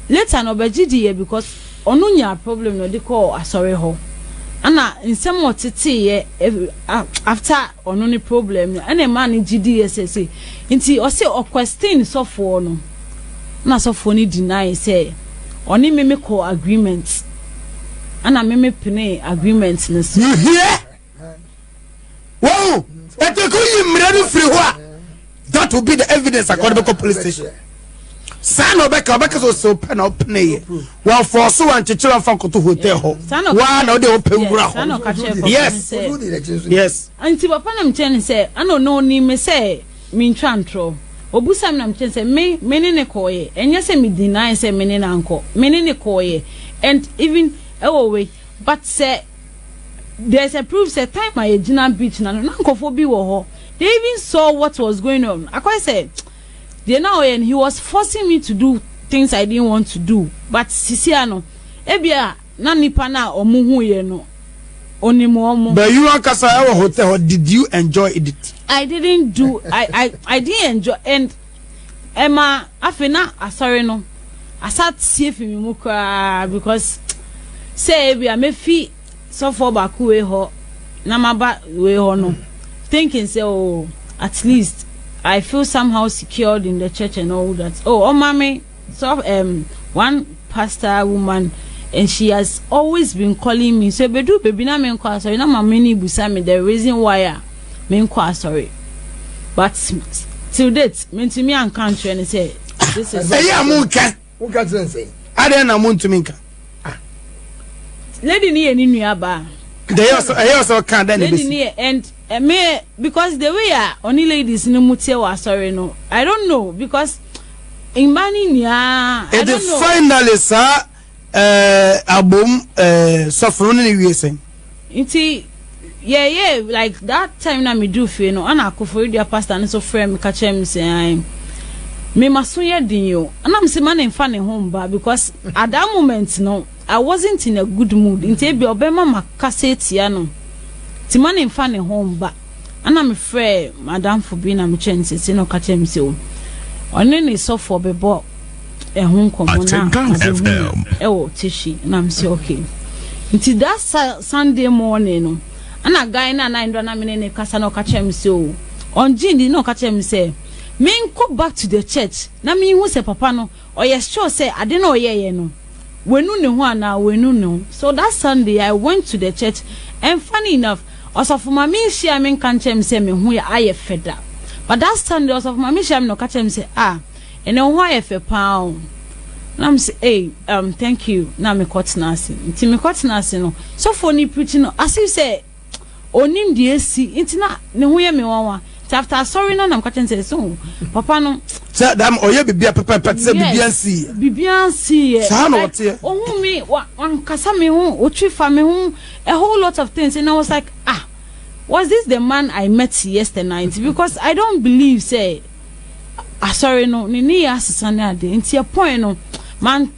later no ɔbɛgye diiɛ because ɔno nyaa problem na ɔde kɔɔ asɔre hɔ. Ɛna nsɛm a ɔteteeɛ eh, ah, after ɔno ne problem no ɛna ɛmaa no gye diiɛ sɛ sei. Nti ɔse ɔquestion sɔfoɔ no na sɔfoɔ no deny sɛ ɔne me mekɔɔ agreement. ɛna meme penee agreement no so. You hear? Wow! But they could you mmerɛ no firi hɔ a that will be the evidence akɔde bɛkɔ police station. saa na ɔbɛka ɔbɛka sɛ ɔsɛ ɔpɛ na ɔpene yɛ wɔfɔɔ so wankyekyerɛ ɔfa nkoto hotel hɔ waa na ɔde ɔpɛ wura hɔ yes yes. nti papa nam kyɛn sɛ ɛna ɔno onim sɛ. mentwa ntorɔ. Ɔbisaa me na mekyerɛɛ no sɛ me, me ne no kɔeɛ. Ɛnyɛ sɛ me deny sɛ me ne no ankɔ. Me ne no kɔeɛ and even ɛwɔ wei but sɛ there is a proof sɛ time a yɛgyina beach no ano na nkurɔfoɔ bi wɔ hɔ. They even saw what was going on. Akɔyɛ sɛ deɛ na ɔyɛ no he was forcing me to do things I didn't want to do but sisi ano ebia Na nnipa no a wɔn huiɛ no, Onim wɔn. But you ankasa ɛwɔ hotel hɔ did you enjoy it? I didn't do I I I didn't enjoy and ɛma afei na asɔre no asa tie fi mi mu koraa because sɛ ebi a mefi sɔfoɔ baako wei hɔ na maba wei hɔ no thinking sɛ oh at least I feel somehow secured in the church and all that oh ɔma me. So um one pastor woman and she has always been calling me so ebedu baby na menkɔ asɔre na maame ni busa me the reason why a menkɔ asɔre but till date mentumi anka nkyerɛ ne sɛ this is. ɛyɛ a mo nka mo nka kyerɛ nsɛn adɛn na mo ntumi nka. Ah. lady ni yɛ ne nua baa. ɛyɛ ɔsɔ ɛyɛ ɔsɔ kan dɛ na ebesi. lady ni yɛ and. Me because the way a ɔne ladies no mu teɛ wɔ asɔre no I don't know because mmaa no nyinaa I don't know. Ɛde finally saa eh, abom eh, sɔfo no ne ne wie sɛn? Nti yeah yeah like that time na me do fie no ana akoforidua pastor no so frɛ me ka kyerɛ me sɛ an me maso yɛ den o ana me se ma ne nfa ne ho mba because at that moment no I wasn't in a good mood nti ebia ɔbɛma makasa atia no nti ma no mfa ne ho mba. Ɛna mefrɛɛ m'adamfo bi na mekyerɛɛ no seesei na ɔka kyerɛɛ me sɛ ɔne ne sɔfoɔ bɛbɔ ɛho nkɔmmɔ na ɔbɛhu me ɛwɔ Teshie na mesɛ okay. Nti that Sunday morning no ɛna guy no a na ndora na me ne ne kasa na ɔka kyerɛɛ me sɛ o ɔngye ndi na ɔka kyerɛɛ me sɛ menkɔ back to the church na menhu sɛ papa no Ɔyɛ sure sɛ ade no a ɔyɛeɛ no, wanu ne ho anaa wannu ne ho. So that Sunday I went to the church and funny enough, Ɔsɔfo Maame nhyiaa me nka nkyerɛɛ me sɛ me ho ayɛ fɛ da. But that Sunday Ɔsɔfo Maame hyiaa me na ɔka kyerɛɛ me sɛ, Ah, ɛnnɛ wo ho ayɛ fɛ pa ara o. Na me se, Ei, um, thank you. Na mekɔtena ase. Nti mekɔtena ase no, sɔfoɔ no repreach no, as if sɛ, Ɔnnim deɛ asi nti na ne ho yɛ me nwanwa nti after asɔre no na meka kyerɛ no sɛ ɛsɛ hu papa no. Sɛ dam ɔyɛ biribi a pɛpɛɛpɛ te sɛ biribiara nsiiɛ. Biribiara nsiiɛ. Saa na ɔteɛ. Ɔhu me wankasa me ho ɔtwi fa me ho a whole lot of things and I was like ah was this the man I met yesterday night because I don't believe sɛ asɔre no ne ne yɛ asesa ne adeɛ nti ɛpɔn no man.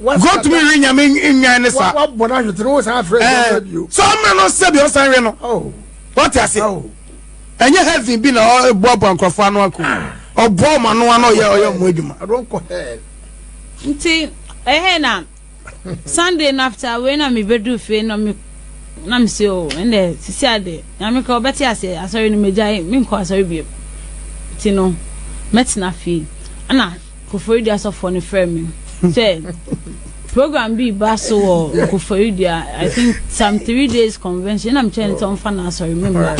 gotumi we nyame nnwan ne saa sɛ ɔmmerɛ no sɛ deɛ ɔsan we no wate ase ɛnyɛ heaven bi na ɔboaboa nkurɔfoɔ ano ako ɔboa ɔma no ano ɔyɛ ɔyɛ ɔmo adwuma nti ɛhɛ na sunday no after wei na mebɛdu fie na me na mese o ɛnɛ sisi ade nyame ka ɔbɛte ase asɔre no megyae menkɔ asɔre bio nti no mɛtena fie ɛna Koforidua asɔfoɔ no frɛ me sɛ program bi ba so wɔ Koforidua I think some three days convention na mekyerɛ ne sɛ ɔmfa no asɔre me mma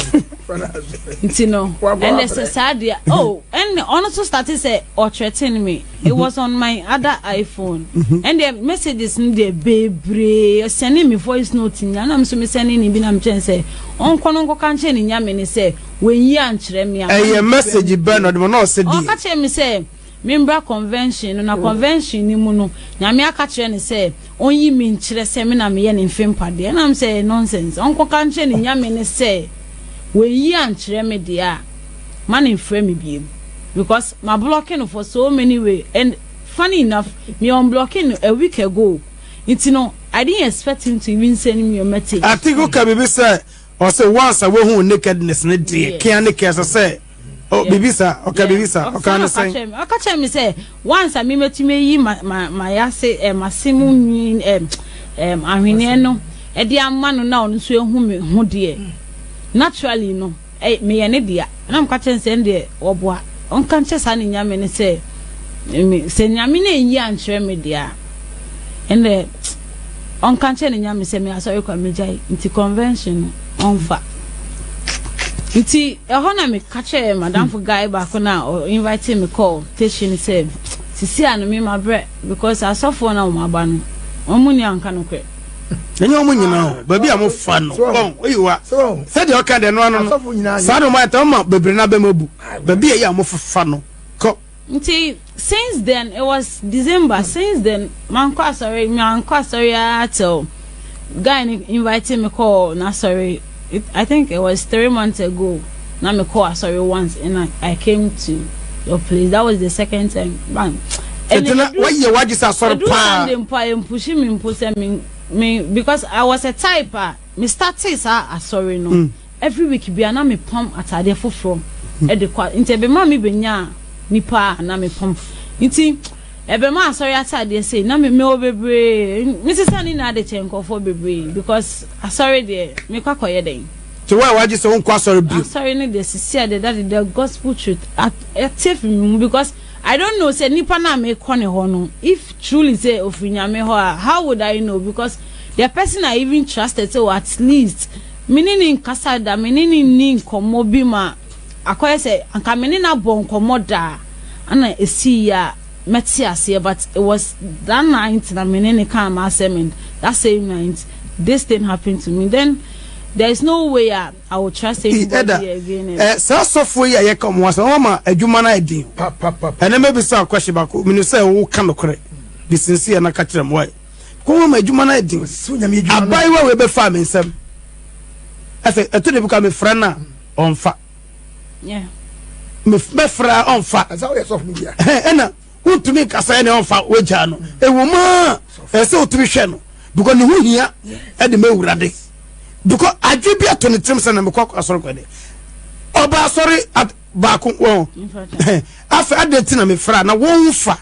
nti no ɛnɛ sɛ saa deɛ oh ɛnɛ ɔno nso starte sɛ ɔkyerɛten me it was on my other iPhone mm-hmm. ɛnɛ messages no deɛ bebree sɛne me voice note nyinaa na me nso me sɛne ne bi na mekyerɛ sɛ ɔnkɔ no nkɔka nkyerɛ ne nyame ne sɛ Wanyi ankyerɛ me a. Ɛyɛ message bɛn na ɔde ma na ɔse deɛ. Ɔka kyerɛɛ me sɛ membra convention no na convention no mu no Nyame aka kyerɛ no sɛ ɔnyi me nkyerɛ sɛ me na meyɛ ne mfe mpadeɛ ɛna me sɛ ɛyɛ nonsense ɔnkɔka nkyerɛ ne Nyame no sɛ wanyi ankyerɛ me deɛ a ma no mfrɛ me biom because mablɔke no for so many way and funny enough me unblɔke no a week ago nti no I didn't expect him to even send me your message. I think woka biribi sɛ Ɔse once a wahuu nakedness no deɛ kea ne kea ɛsɛ sɛ oh biribi saa ɔka biribi saa ɔka ne sɛn. Ɔka kyerɛ me sɛ once a me mɛtumi ayi ma ma ma yase eh, mase mu nwi eh, eh, ahweneɛ no ɛde ama no na ɔno nso ehu me ho deɛ naturally no eh, meyɛ ne dea. Na meka kyerɛ no sɛ ɛndeɛ wɔboa ɔnka nkyerɛ saa ne Nyame no sɛ me sɛ Nyame no anyi ankyerɛ me deɛ a ɛndeɛ ɔnka nkyerɛ ne Nyame sɛ me asɔre kwa megyae nti convention no ɔnfa nti ɛhɔ na meka kyerɛ madamfo hmm. guy baako na ɔ invite me call teshi no sɛ sisi a no me mabrɛ because asɔfoɔ na wɔn aba no wɔn mu ni anka no korɛ ɛnyɛ wɔn nyinaa o baabi a wɔn fa no wɔn oyi wa sɛdeɛ ɔka deɛ no ano no saa na wɔn ayɛ tɛn ma bebree na bɛn mu abu baabi a yɛ a wɔn fa no kɔ. nti since then it was december since then mankɔ asɔre mankɔ asɔre ara till guy no invite me kɔ n'asɔre. It I think it was three months ago na me kɔ asɔre once and I, I came to your place that was the second time man. Tete na wayɛ wagye sɛ asɔre paa. Edu Sunday mpo a yɛn pushi mi mpo sɛ mi mi because I was a type a me started saa asɔre no mm. every week bia na me pam ataadeɛ foforɔ ɛde mm. kɔ nti ɛbɛma mi bɛ nyaa nipa a na me pam nti. Ɛbɛma asɔre ataadeɛ sei na me mewɔ bebree mesesa ne nyinaa de kyɛ nkurɔfoɔ bebree because asɔre deɛ mekɔ akɔyɛ dɛn. Nti wo a wagye sɛ wonkɔ asɔre bio. Asɔre no deɛ sisi a deɛ dade the gospel truth ate afiri me mu because I don't know sɛ nipa no a mekɔ ne hɔ no if truly sɛ ofiri nyame hɔ a how would I know because the person I even trusted sɛ oh at least me ne ne nkasa da me ne ne nni nkɔmmɔ bi ma Akɔyɛ sɛ anka me ne no abɔ nkɔmmɔ da a ɛna ɛsii yi a mɛte aseɛ but it was that night na me ne no kaa m'asɛm and that same night this thing happened to me then there is no way a I will trust anybody again and. Eh, saa sɔfoɔ yi a yɛka wɔn asɛm wɔn ama adwuma no ayɛ den ɛnɛ mɛbisa wo question baako menim sɛ woka nokorɛ de sinsi yɛ na ka kyerɛ m why kɔ wɔn ama adwuma no ayɛ den abayewa wei bɛfaa me nsɛm afei ɛto de bi kɔ a mefrɛ no a ɔmfa mɛfra ɔmfa ɛna wontumi nka sɛ ɛne ɔmfa wagyaa no ɛwɔ mu a ɛsɛ sɛ wotumi hwɛ no because ne ho hia ɛde ma awurade because adwe bi ato ne tirim sɛ na mekɔ asɔre kɔ de ɔba asɔre baako wɔn afɛ adɛn ti na mefra na wɔn fa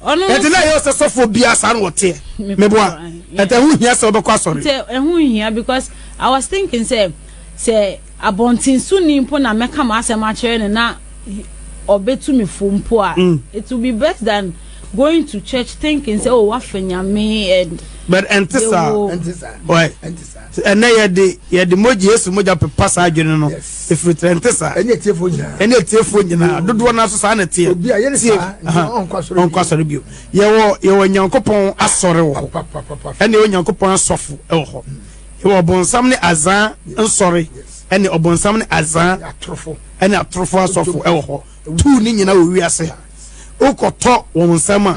Ɔno Ɛte dɛ ɛyɛ sɛ sɔfoɔ biara saa na ɔteɛ. Me Me boa. papa, yeah. Ɛte ɛho hia sɛ ɔbɛkɔ asɔre. Nti ɛho nhia because I was thinking sɛ sɛ abɔnten so ni mpo na mɛka m'asɛm akyerɛ no na he- ɔbɛtu me fo mpo a, it will be best than going to church thinking sɛ oh woafa Nyame and But ɛnte saa. yɛwo Ɛnte saa. Why? Ɛnte saa. Ɛnnɛ yɛde yɛde mogya, Yesu mogya pepa saa adwene no firi tra. Ɛnte saa? Ɛne atiefoɔ nyinaa. Ɛne atiefoɔ nyinaa. Dodoɔ no ara nso saa na ɛteɛ. Obi a yɛ ne saa, nti ɔnkɔ asɔre bio. Ɔnkɔ asɔre bio. Yɛwɔ yɛwɔ Nyankopɔn asɔre wɔ hɔ. Papapapapa. Ɛne yɛwɔ Nyankopɔn asɔfo wɔ hɔ. Yɛwɔ ɔbonsam ne azaa nsɔre. Ɛne ɔbonsam ne azaa. Ne atorofo. Ɛne atorofo asɔfo wɔ hɔ. Tuu ne nyinaa wɔ wiase ha. Wokɔtɔ wɔn nsam a,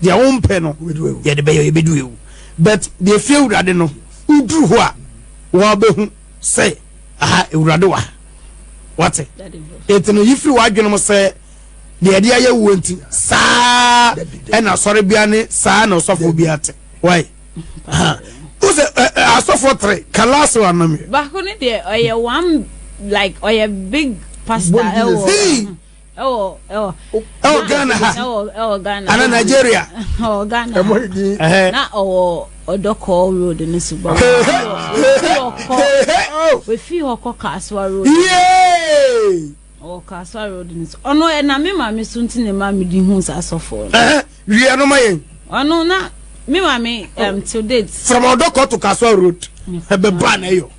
deɛ wompɛ no, yɛde bɛyɛ yɛbɛdu ewu. But deɛ fie awurade no wo duru hɔ a wa bɛ hu sɛ aha awurade wɔ ha wate eti no yifiri wa adwene mo sɛ deɛ ɛde ayɛ wuo nti saa ɛna asɔre bia ne saa na ɔsɔfo bia te wai aha wosɛ asɔfo tere kalaasi wa nam yɛ. baako ne deɛ ɔyɛ one like ɔyɛ big pastor ɛwɔ. ɛwɔ ghana ha ana nigeria ɛwɔ ghana na ɔwɔ ɔdɔkɔ road no so bɔ wɔfii hɔ kɔ kasoa road ɔwɔ kasoa road no so ɔno ɛna me maame so nti ne ma medi hu saa sɔfoɔ no wia no ma yɛn ɔno na me maame um, till date from ɔdɔkɔ to kasoa road ɛbɛba na ɛyɔ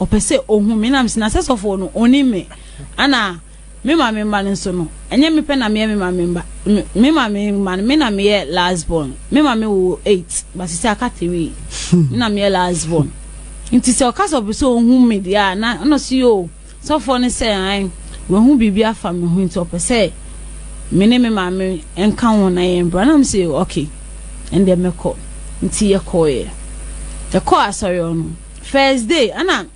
ɔpɛ sɛ ohu me na mesi na sɛ sɔfo no onim me ana me maame mma no nso no ɛnyɛ me pɛ na meyɛ me maame mba me maame mma no me na meyɛ last born me maame wo eight but sɛ aka three me na meyɛ last born nti sɛ ɔka sɛ ɔpɛ sɛ ohu me deɛ a na ɔno so yɛ o sɔfoɔ no sɛ an wahu biribi afa me ho nti ɔpɛ sɛ me ne me maame nka ho na yɛn bra na me sɛ okay ɛndeɛ mɛkɔ nti yɛkɔɔyɛ yɛkɔɔ asɔre ɔno First day ɛna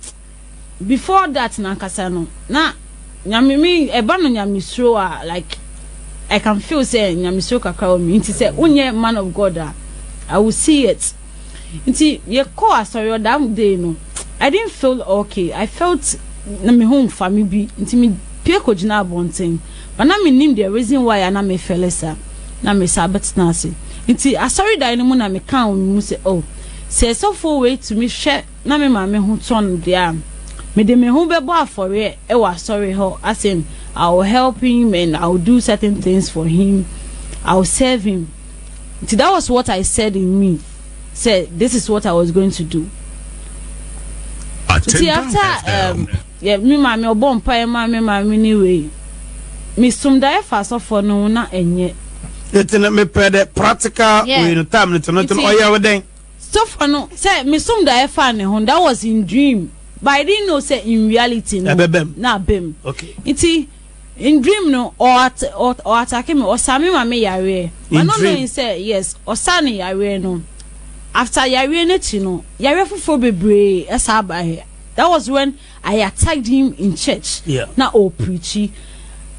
before that no ankasa no na nyame me ɛba no nyamesuro a like I can feel sɛ nyamesuro kakra wɔ me nti sɛ wonyɛ man of God a I will see it nti yɛkɔ asɔre ɔdam day no I didn't feel okay I felt na me ho mfa me bi nti me pie kɔ gyina abɔnten but na me nim the reason why a na me feel sa na me sa bɛtena ase nti asɔre dan no mu na me kan wɔ me mu sɛ oh Sɛ ɔsɔfoɔ wei tumi hwɛ na me maame ho tɔ no deɛ a, mede me ho bɛbɔ afɔreɛ wɔ asɔre hɔ, as in I will help him and I will do certain things for him, I will serve him. Nti that was what I said in me sɛ this is what I was going to do. Nti Attendant after um, FM. Yɛ me maame ɔbɔ mpaeɛ ma me maame ne wei me som daeɛ fa asɔfoɔ no ho na ɛnyɛ. Nti no me pɛ dɛ practical wei no time no to no to no ɔyɛ wo dɛn. Sɔfoɔ no sɛ me som daeɛ fa ne ho that was in dream but I didn't know sɛ in reality no na aba mu nti in dream no ɔ at ɔ ɔ atake me ɔsa me maame yareɛ ma no no sɛ yes ɔsa ne yareɛ no after yareɛ no akyi no yareɛ foforɔ bebree ɛsa aba yɛ. That was when I attacked him in church. Yeah. Na o preachy.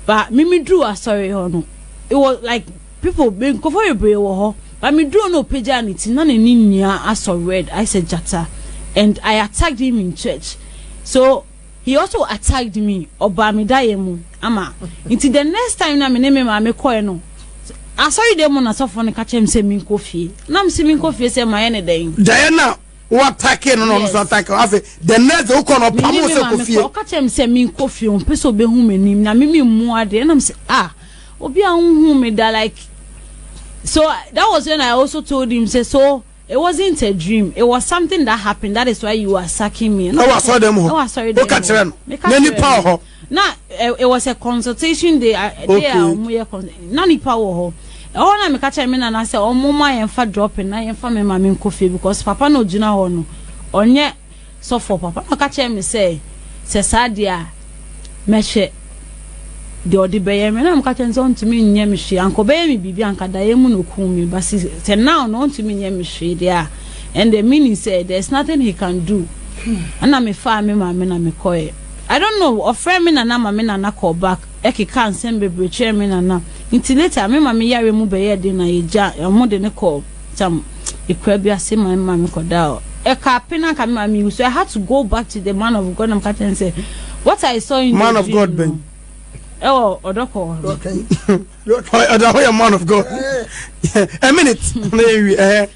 But me me drew asɔre hɔ no. It was like people me nkɔfɔ bebree wɔ hɔ. But me drew no pagya ne ti na ne ni nyinaa asɔ red. I said jata. And I attacked him in church. So he also attacked me. Ɔbaa me da yɛ mu ama. Nti the next time na me ne me maame kɔɛ no. Asɔre dɛ mu na sɔfo no ka kyerɛ me sɛ menkɔ fie. Na me se menkɔ fie sɛ mayɛ ne dɛn. Diana wo atake no na ɔno nso atake wo afei the next day wokɔ no ɔpam wo sɛ kɔ fie ɔka kyerɛ me sɛ menkɔ fie ɔmpɛ sɛ ɔbɛhu m'anim na meme mmu adeɛ nam sɛ ah obi a wohu me da like so that was when I also told him sɛ so it wasn't a dream it was something that happened that is why you are sucking me na wasɔre dɛm hɔ woka kyerɛ no na nipa wɔ hɔ na it was a consultation day day a wɔn yɛ na nipa wɔ hɔ ɛhɔ na meka kyerɛ me nana sɛ wɔn ma yɛn fa dropping na yɛn fa me ma me nkɔ fie because papa na ogyina hɔ no ɔnyɛ sɔfo papa na ɔka kyerɛ me sɛ sɛ saa deɛ a mɛhwɛ deɛ ɔde bɛyɛ me na meka kyerɛ sɛ ɔntumi nyɛ me hwee anka ɔbɛyɛ me biribi anka daeɛ mu na okum me ba si sɛ now na ɔntumi nyɛ me hwee deɛ a and the meaning sɛ there is nothing he can do ɛna mefaa me maame na mekɔɛ I don't know ɔfrɛɛ me nana ma me nana kɔɔ back ɛkekaa nsɛm bebree kyerɛɛ me nana nti later me maame yareɛ mu bɛyɛɛ den na yɛgyaa ɔmo de no kɔɔ tam akuraa bi ase ma me maame kɔdaa ɛkaa pe na anka me maame wu so I had to go back to the man of God na meka kyerɛ no sɛ what I saw in man the dream man of God bɛn ɛwɔ ɔdɔkɔ ɔda hɔ yɛ man of God a minute na yɛwi ɛhɛ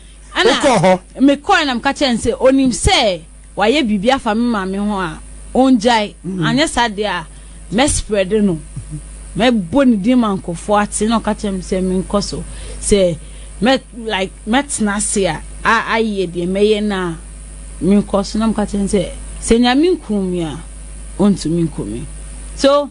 wokɔ hɔ mekɔɛ na meka kyerɛ no sɛ onim sɛ wayɛ biribi afa me maame ho a, ɔngyae. Anyɛ saa deɛ a, mɛsprɛde no. Mɛbɔ ne din ma nkurɔfoɔ ate. Na ɔka kyerɛ me sɛ menkɔ so. Sɛ mɛ like mɛtena ase a, a ayɛ deɛ mɛyɛ no a, menkɔ so. Na meka kyerɛ no sɛ, sɛ Nyame nkum me a, ɔntumi nku me. So.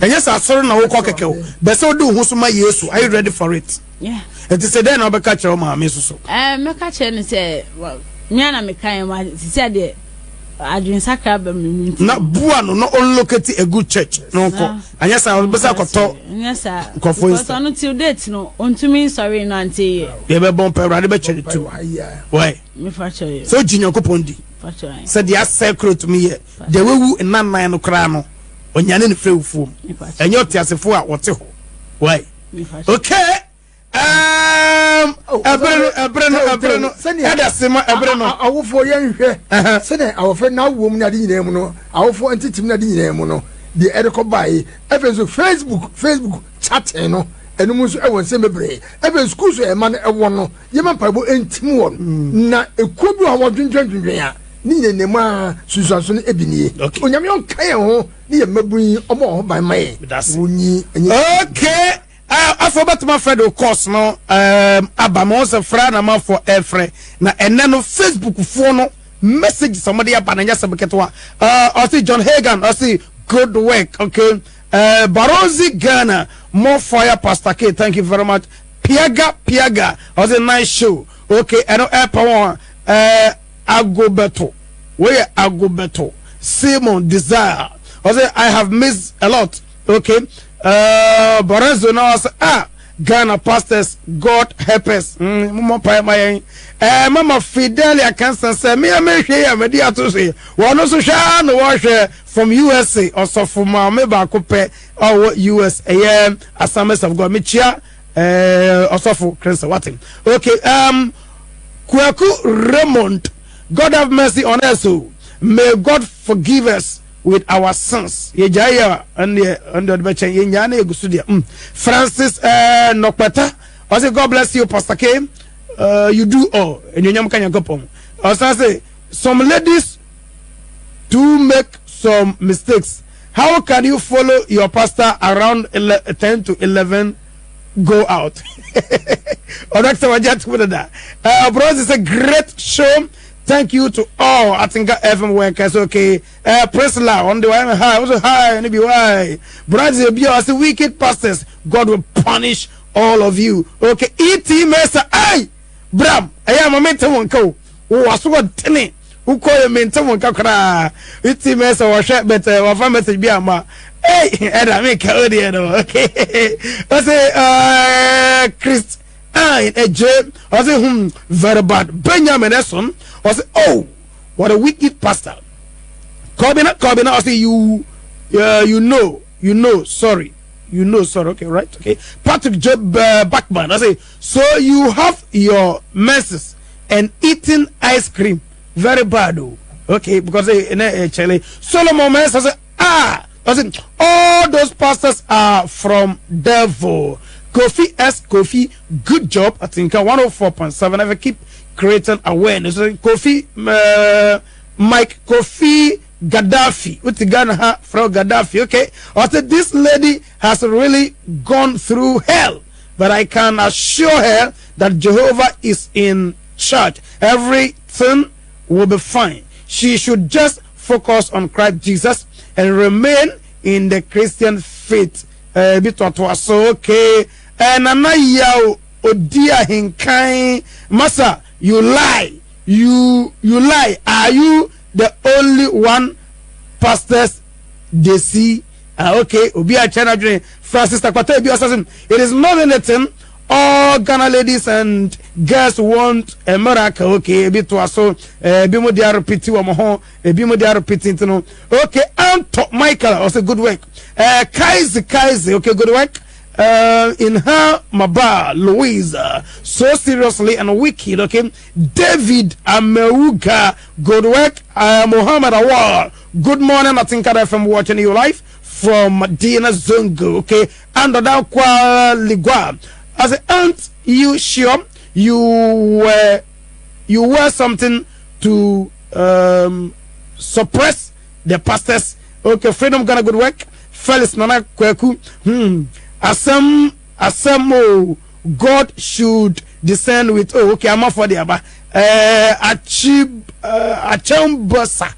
ɛnyɛ sɛ asɔre na wokɔ kɛkɛ o bɛ sɛ wode wo ho so ma yesu are you ready for it ɛti sɛ dɛn na wobɛka kyerɛ wo maame so so eh, mɛka kyerɛ no sɛ mea na meka yɛ ma te sɛ deɛ adwensakra ba me mu na boa no na ɔnlocate a good church na ɔnkɔ anyɛ saa ɔbɛ sɛ akɔtɔ nkɔfoɔ nsa ɔno till date no ɔntumi nsɔre no ante yɛ deɛ bɛbɔ mpa awurade bɛkyɛ ne tiri wae sɛ ɔgye nyankopɔn di sɛ deɛ asɛ koro tumi yɛ Deɛ wawu nna nnan no koraa no, ɔnyane no firi awufoɔ mu. Ɛnyɛ ɔteasefoɔ a ɔte hɔ. Wai? Okay. Um, ɛbere no, ɛbere no, ɛbere no. Ɛda se ma ɛbere no. Awofoɔ yɛn hwɛ. Sɛdeɛ awɔfɛ n'awoɔ mu ne ade nyinaa mu no, awofoɔ ntetem ne ade nyinaa mu no, deɛ ɛde kɔ bae. Ɛfɛ nso Facebook, Facebook chatting no, ɛnum nso ɛwɔ nsɛm bebree. Ɛfɛ school so ɛma no ɛwɔ no. Yɛma mpaebɔ ntim wɔn. Na ekuo bi wɔ hɔ a wɔdwendwen dwendwen a, ne nyina nyina mu a sunsuanso no ebi nie. Okay. Onyame ɔnka yɛn ho ne yɛn mmabun yi, ɔmɔ wɔn ho ban ma yɛn. Medase. Wonyi ɛnyɛ. Okay. Uh, afei wobɛtumi afrɛ de course no um, aba ma wo sɛ frɛ na mafoɔ ɛfrɛ na ɛnɛ no facebook foɔ no message sɛ mode aba no nyɛ sɛ beketewa ɔse uh, john hagan ɔse good work okay uh, barozi ghana more fire pastor k thank you very much Piaga piaga ɔse nice show. Ok ɛno ɛɛpɛ wɔn a ɛɛ ago bɛto wei yɛ ago bɛto Simon desire ɔse I have missed a lot ok ɛɛ Borezo na ɔse ah Ghana pastors God help us mm mo mɔ mpae ma yɛn ɛɛ mama Fidelia kansa sɛ me a mehwɛ yi a mɛdi ato so yi wɔn nso hwɛ ara na wɔhwɛ from USA ɔsɔfo maame baako pɛ ɔwɔ us ɛyɛ assemblies of god mekyia eh, ɔsɔfo krɛnsɛ wate okay um, kwaku raymond god have mercy on us o oh. may god forgive us with our sins yɛgyae yɛ ɛndeɛ ɛndeɛ ɔde bɛkyɛn yɛnyaa na yɛgu so deɛ mm. francis eh, nɔkpɛta ɔse god bless you pastor k uh, you do all ɛnuonyam ka nyankopɔn ɔsan se some ladies do make some mistakes how can you follow your pastor around ten to eleven go out ɔno akisɛ wagye atum dada ɔbrɔ ɔsi sɛ great show thank you to all atenka fm workers okay uh, prisla ɔno de wayɛ hi ɔso hi ne bi why brɔdze obi a ɔsi wicked pastors god will punish all of you okay et mesa ai bram ɛyɛ ama mente wo nka o Wo asoɔdene wo kɔ yɛ mente wo nka koraa iti mɛ sɛ wɔhwɛ but uh, wafa message bi ama ei ɛda me ka o deɛ no okay ɔse uh, Christ I ɛgye ɔse hmm very bad Benjamin ɛson ɔse oh what a wicked pastor Kɔbina Kɔbina ɔse you uh, you know you know sorry you know sorry okay right okay Patrick Job uh, Backman ɔse so you have your menses and eating ice cream very bad o okay because eh, na eh, kyɛlɛ solomon ma ɛsɛ sɛ ah ɔsɛ all those pastors are from devil kofi s kofi good job atinka 104.7 ever keep creating awareness kofi uh, mike kofi Gaddafi, with Ghana from Gaddafi, okay? I said, this lady has really gone through hell. but I can assure her that Jehovah is in charge everything will be fine she should just focus on Christ Jesus and remain in the Christian faith eh, bi toatoa so okay eh, Nana Yaw odi ahenkan masa you lie you you lie are you the only one pastors they see Ah ok obi a kyɛ n'adwene fa sister kwata ebi ɔsase mu it is not anything all Ghana ladies and girls want a miracle ok ebi to aso eh, ebi mo de arepiti wɔn ho ebi mo de arepiti nti no ok Anto Michael ɔsɛ good work eh, Kaize Kaize ok good work Uh, in her Maba Louisa, so seriously and wicked, okay? David Ameuga, good work, uh, Muhammad Awar, Good morning Atinka FM watching you live from Madina Zongo okay and Odakwa Ligwa I say aren't you sure you were you were something to um, suppress the pastors okay Freedom Ghana good work Felix Nana Kweku hmm asem asem oh God should descend with oh okay I'm for the aba eh achib eh, achembosa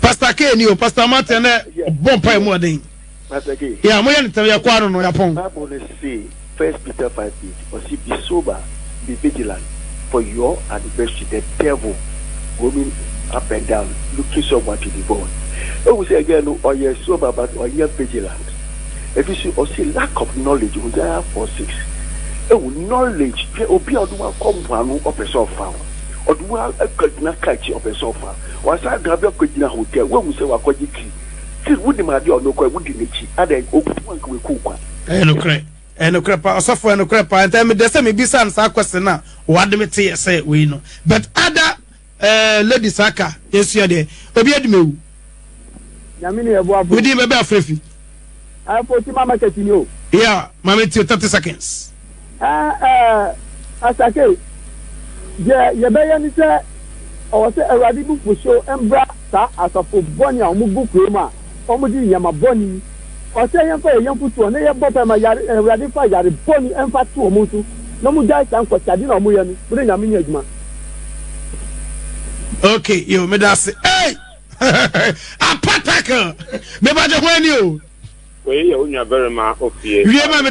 pastor k ni o pastor martin ne bɔ mpa emu ɔden yà mo yɛ ne tẹm yɛ kọ ano no yà pọn. bible no se first peter five eight ɔsi be sober be vigilant for your adversary the devil roaming up and down looking someone to devour ehu sɛ ɛgɛ no ɔyɛ sober but ɔnyɛ vigilant. Ebi so ɔse lack of knowledge ɔde ayɛ four six ewu knowledge hwɛ obi a ɔde wa kɔ mpoano ɔpɛ sɛ ɔfa ho ɔde wa akɔ gyina car akyi ɔpɛ sɛ ɔfa wasa da bi akɔ gyina hotel wahu sɛ wakɔ gye tea tea wodi ma ade ɔno kɔ wodi n'akyi ada okutu anka weku kwa. Ɛyɛ nokorɛ ɛyɛ nokorɛ paa ɔsɔfo ɛyɛ nokorɛ paa nti ɛmedɛ sɛ mebisa no saa question no a wade me te yɛ sɛ wei no but ada Eh ladies aka yɛsua deɛ obi adi me wu. Nyame ne ɛboafo. Wo din bɛ bɛ afrefi. Eh foti ma market ni o. Yeah mame tio 30 seconds. Eh eh asake deɛ yɛbɛyɛ ne sɛ ɔwɔ sɛ awurade bu fuhyew mbra saa asɔfo bɔne a ɔmo gu kurom a ɔmo di nyɛma bɔne yi. Ɔsɛ yɛmfa yɛn yɔnko toɔ na yɛbɔ mpae ma yare Awurade mfa yare bɔne mfa to wɔn so na wɔn gyae saa nkɔkyade na wɔn yɛ no wɔn ne Nyame nyɛ adwuma. Ok yo me da se ei apatacle me ba gye ho ani o. Wei yɛ wo nua barima ofie. Wie ma me.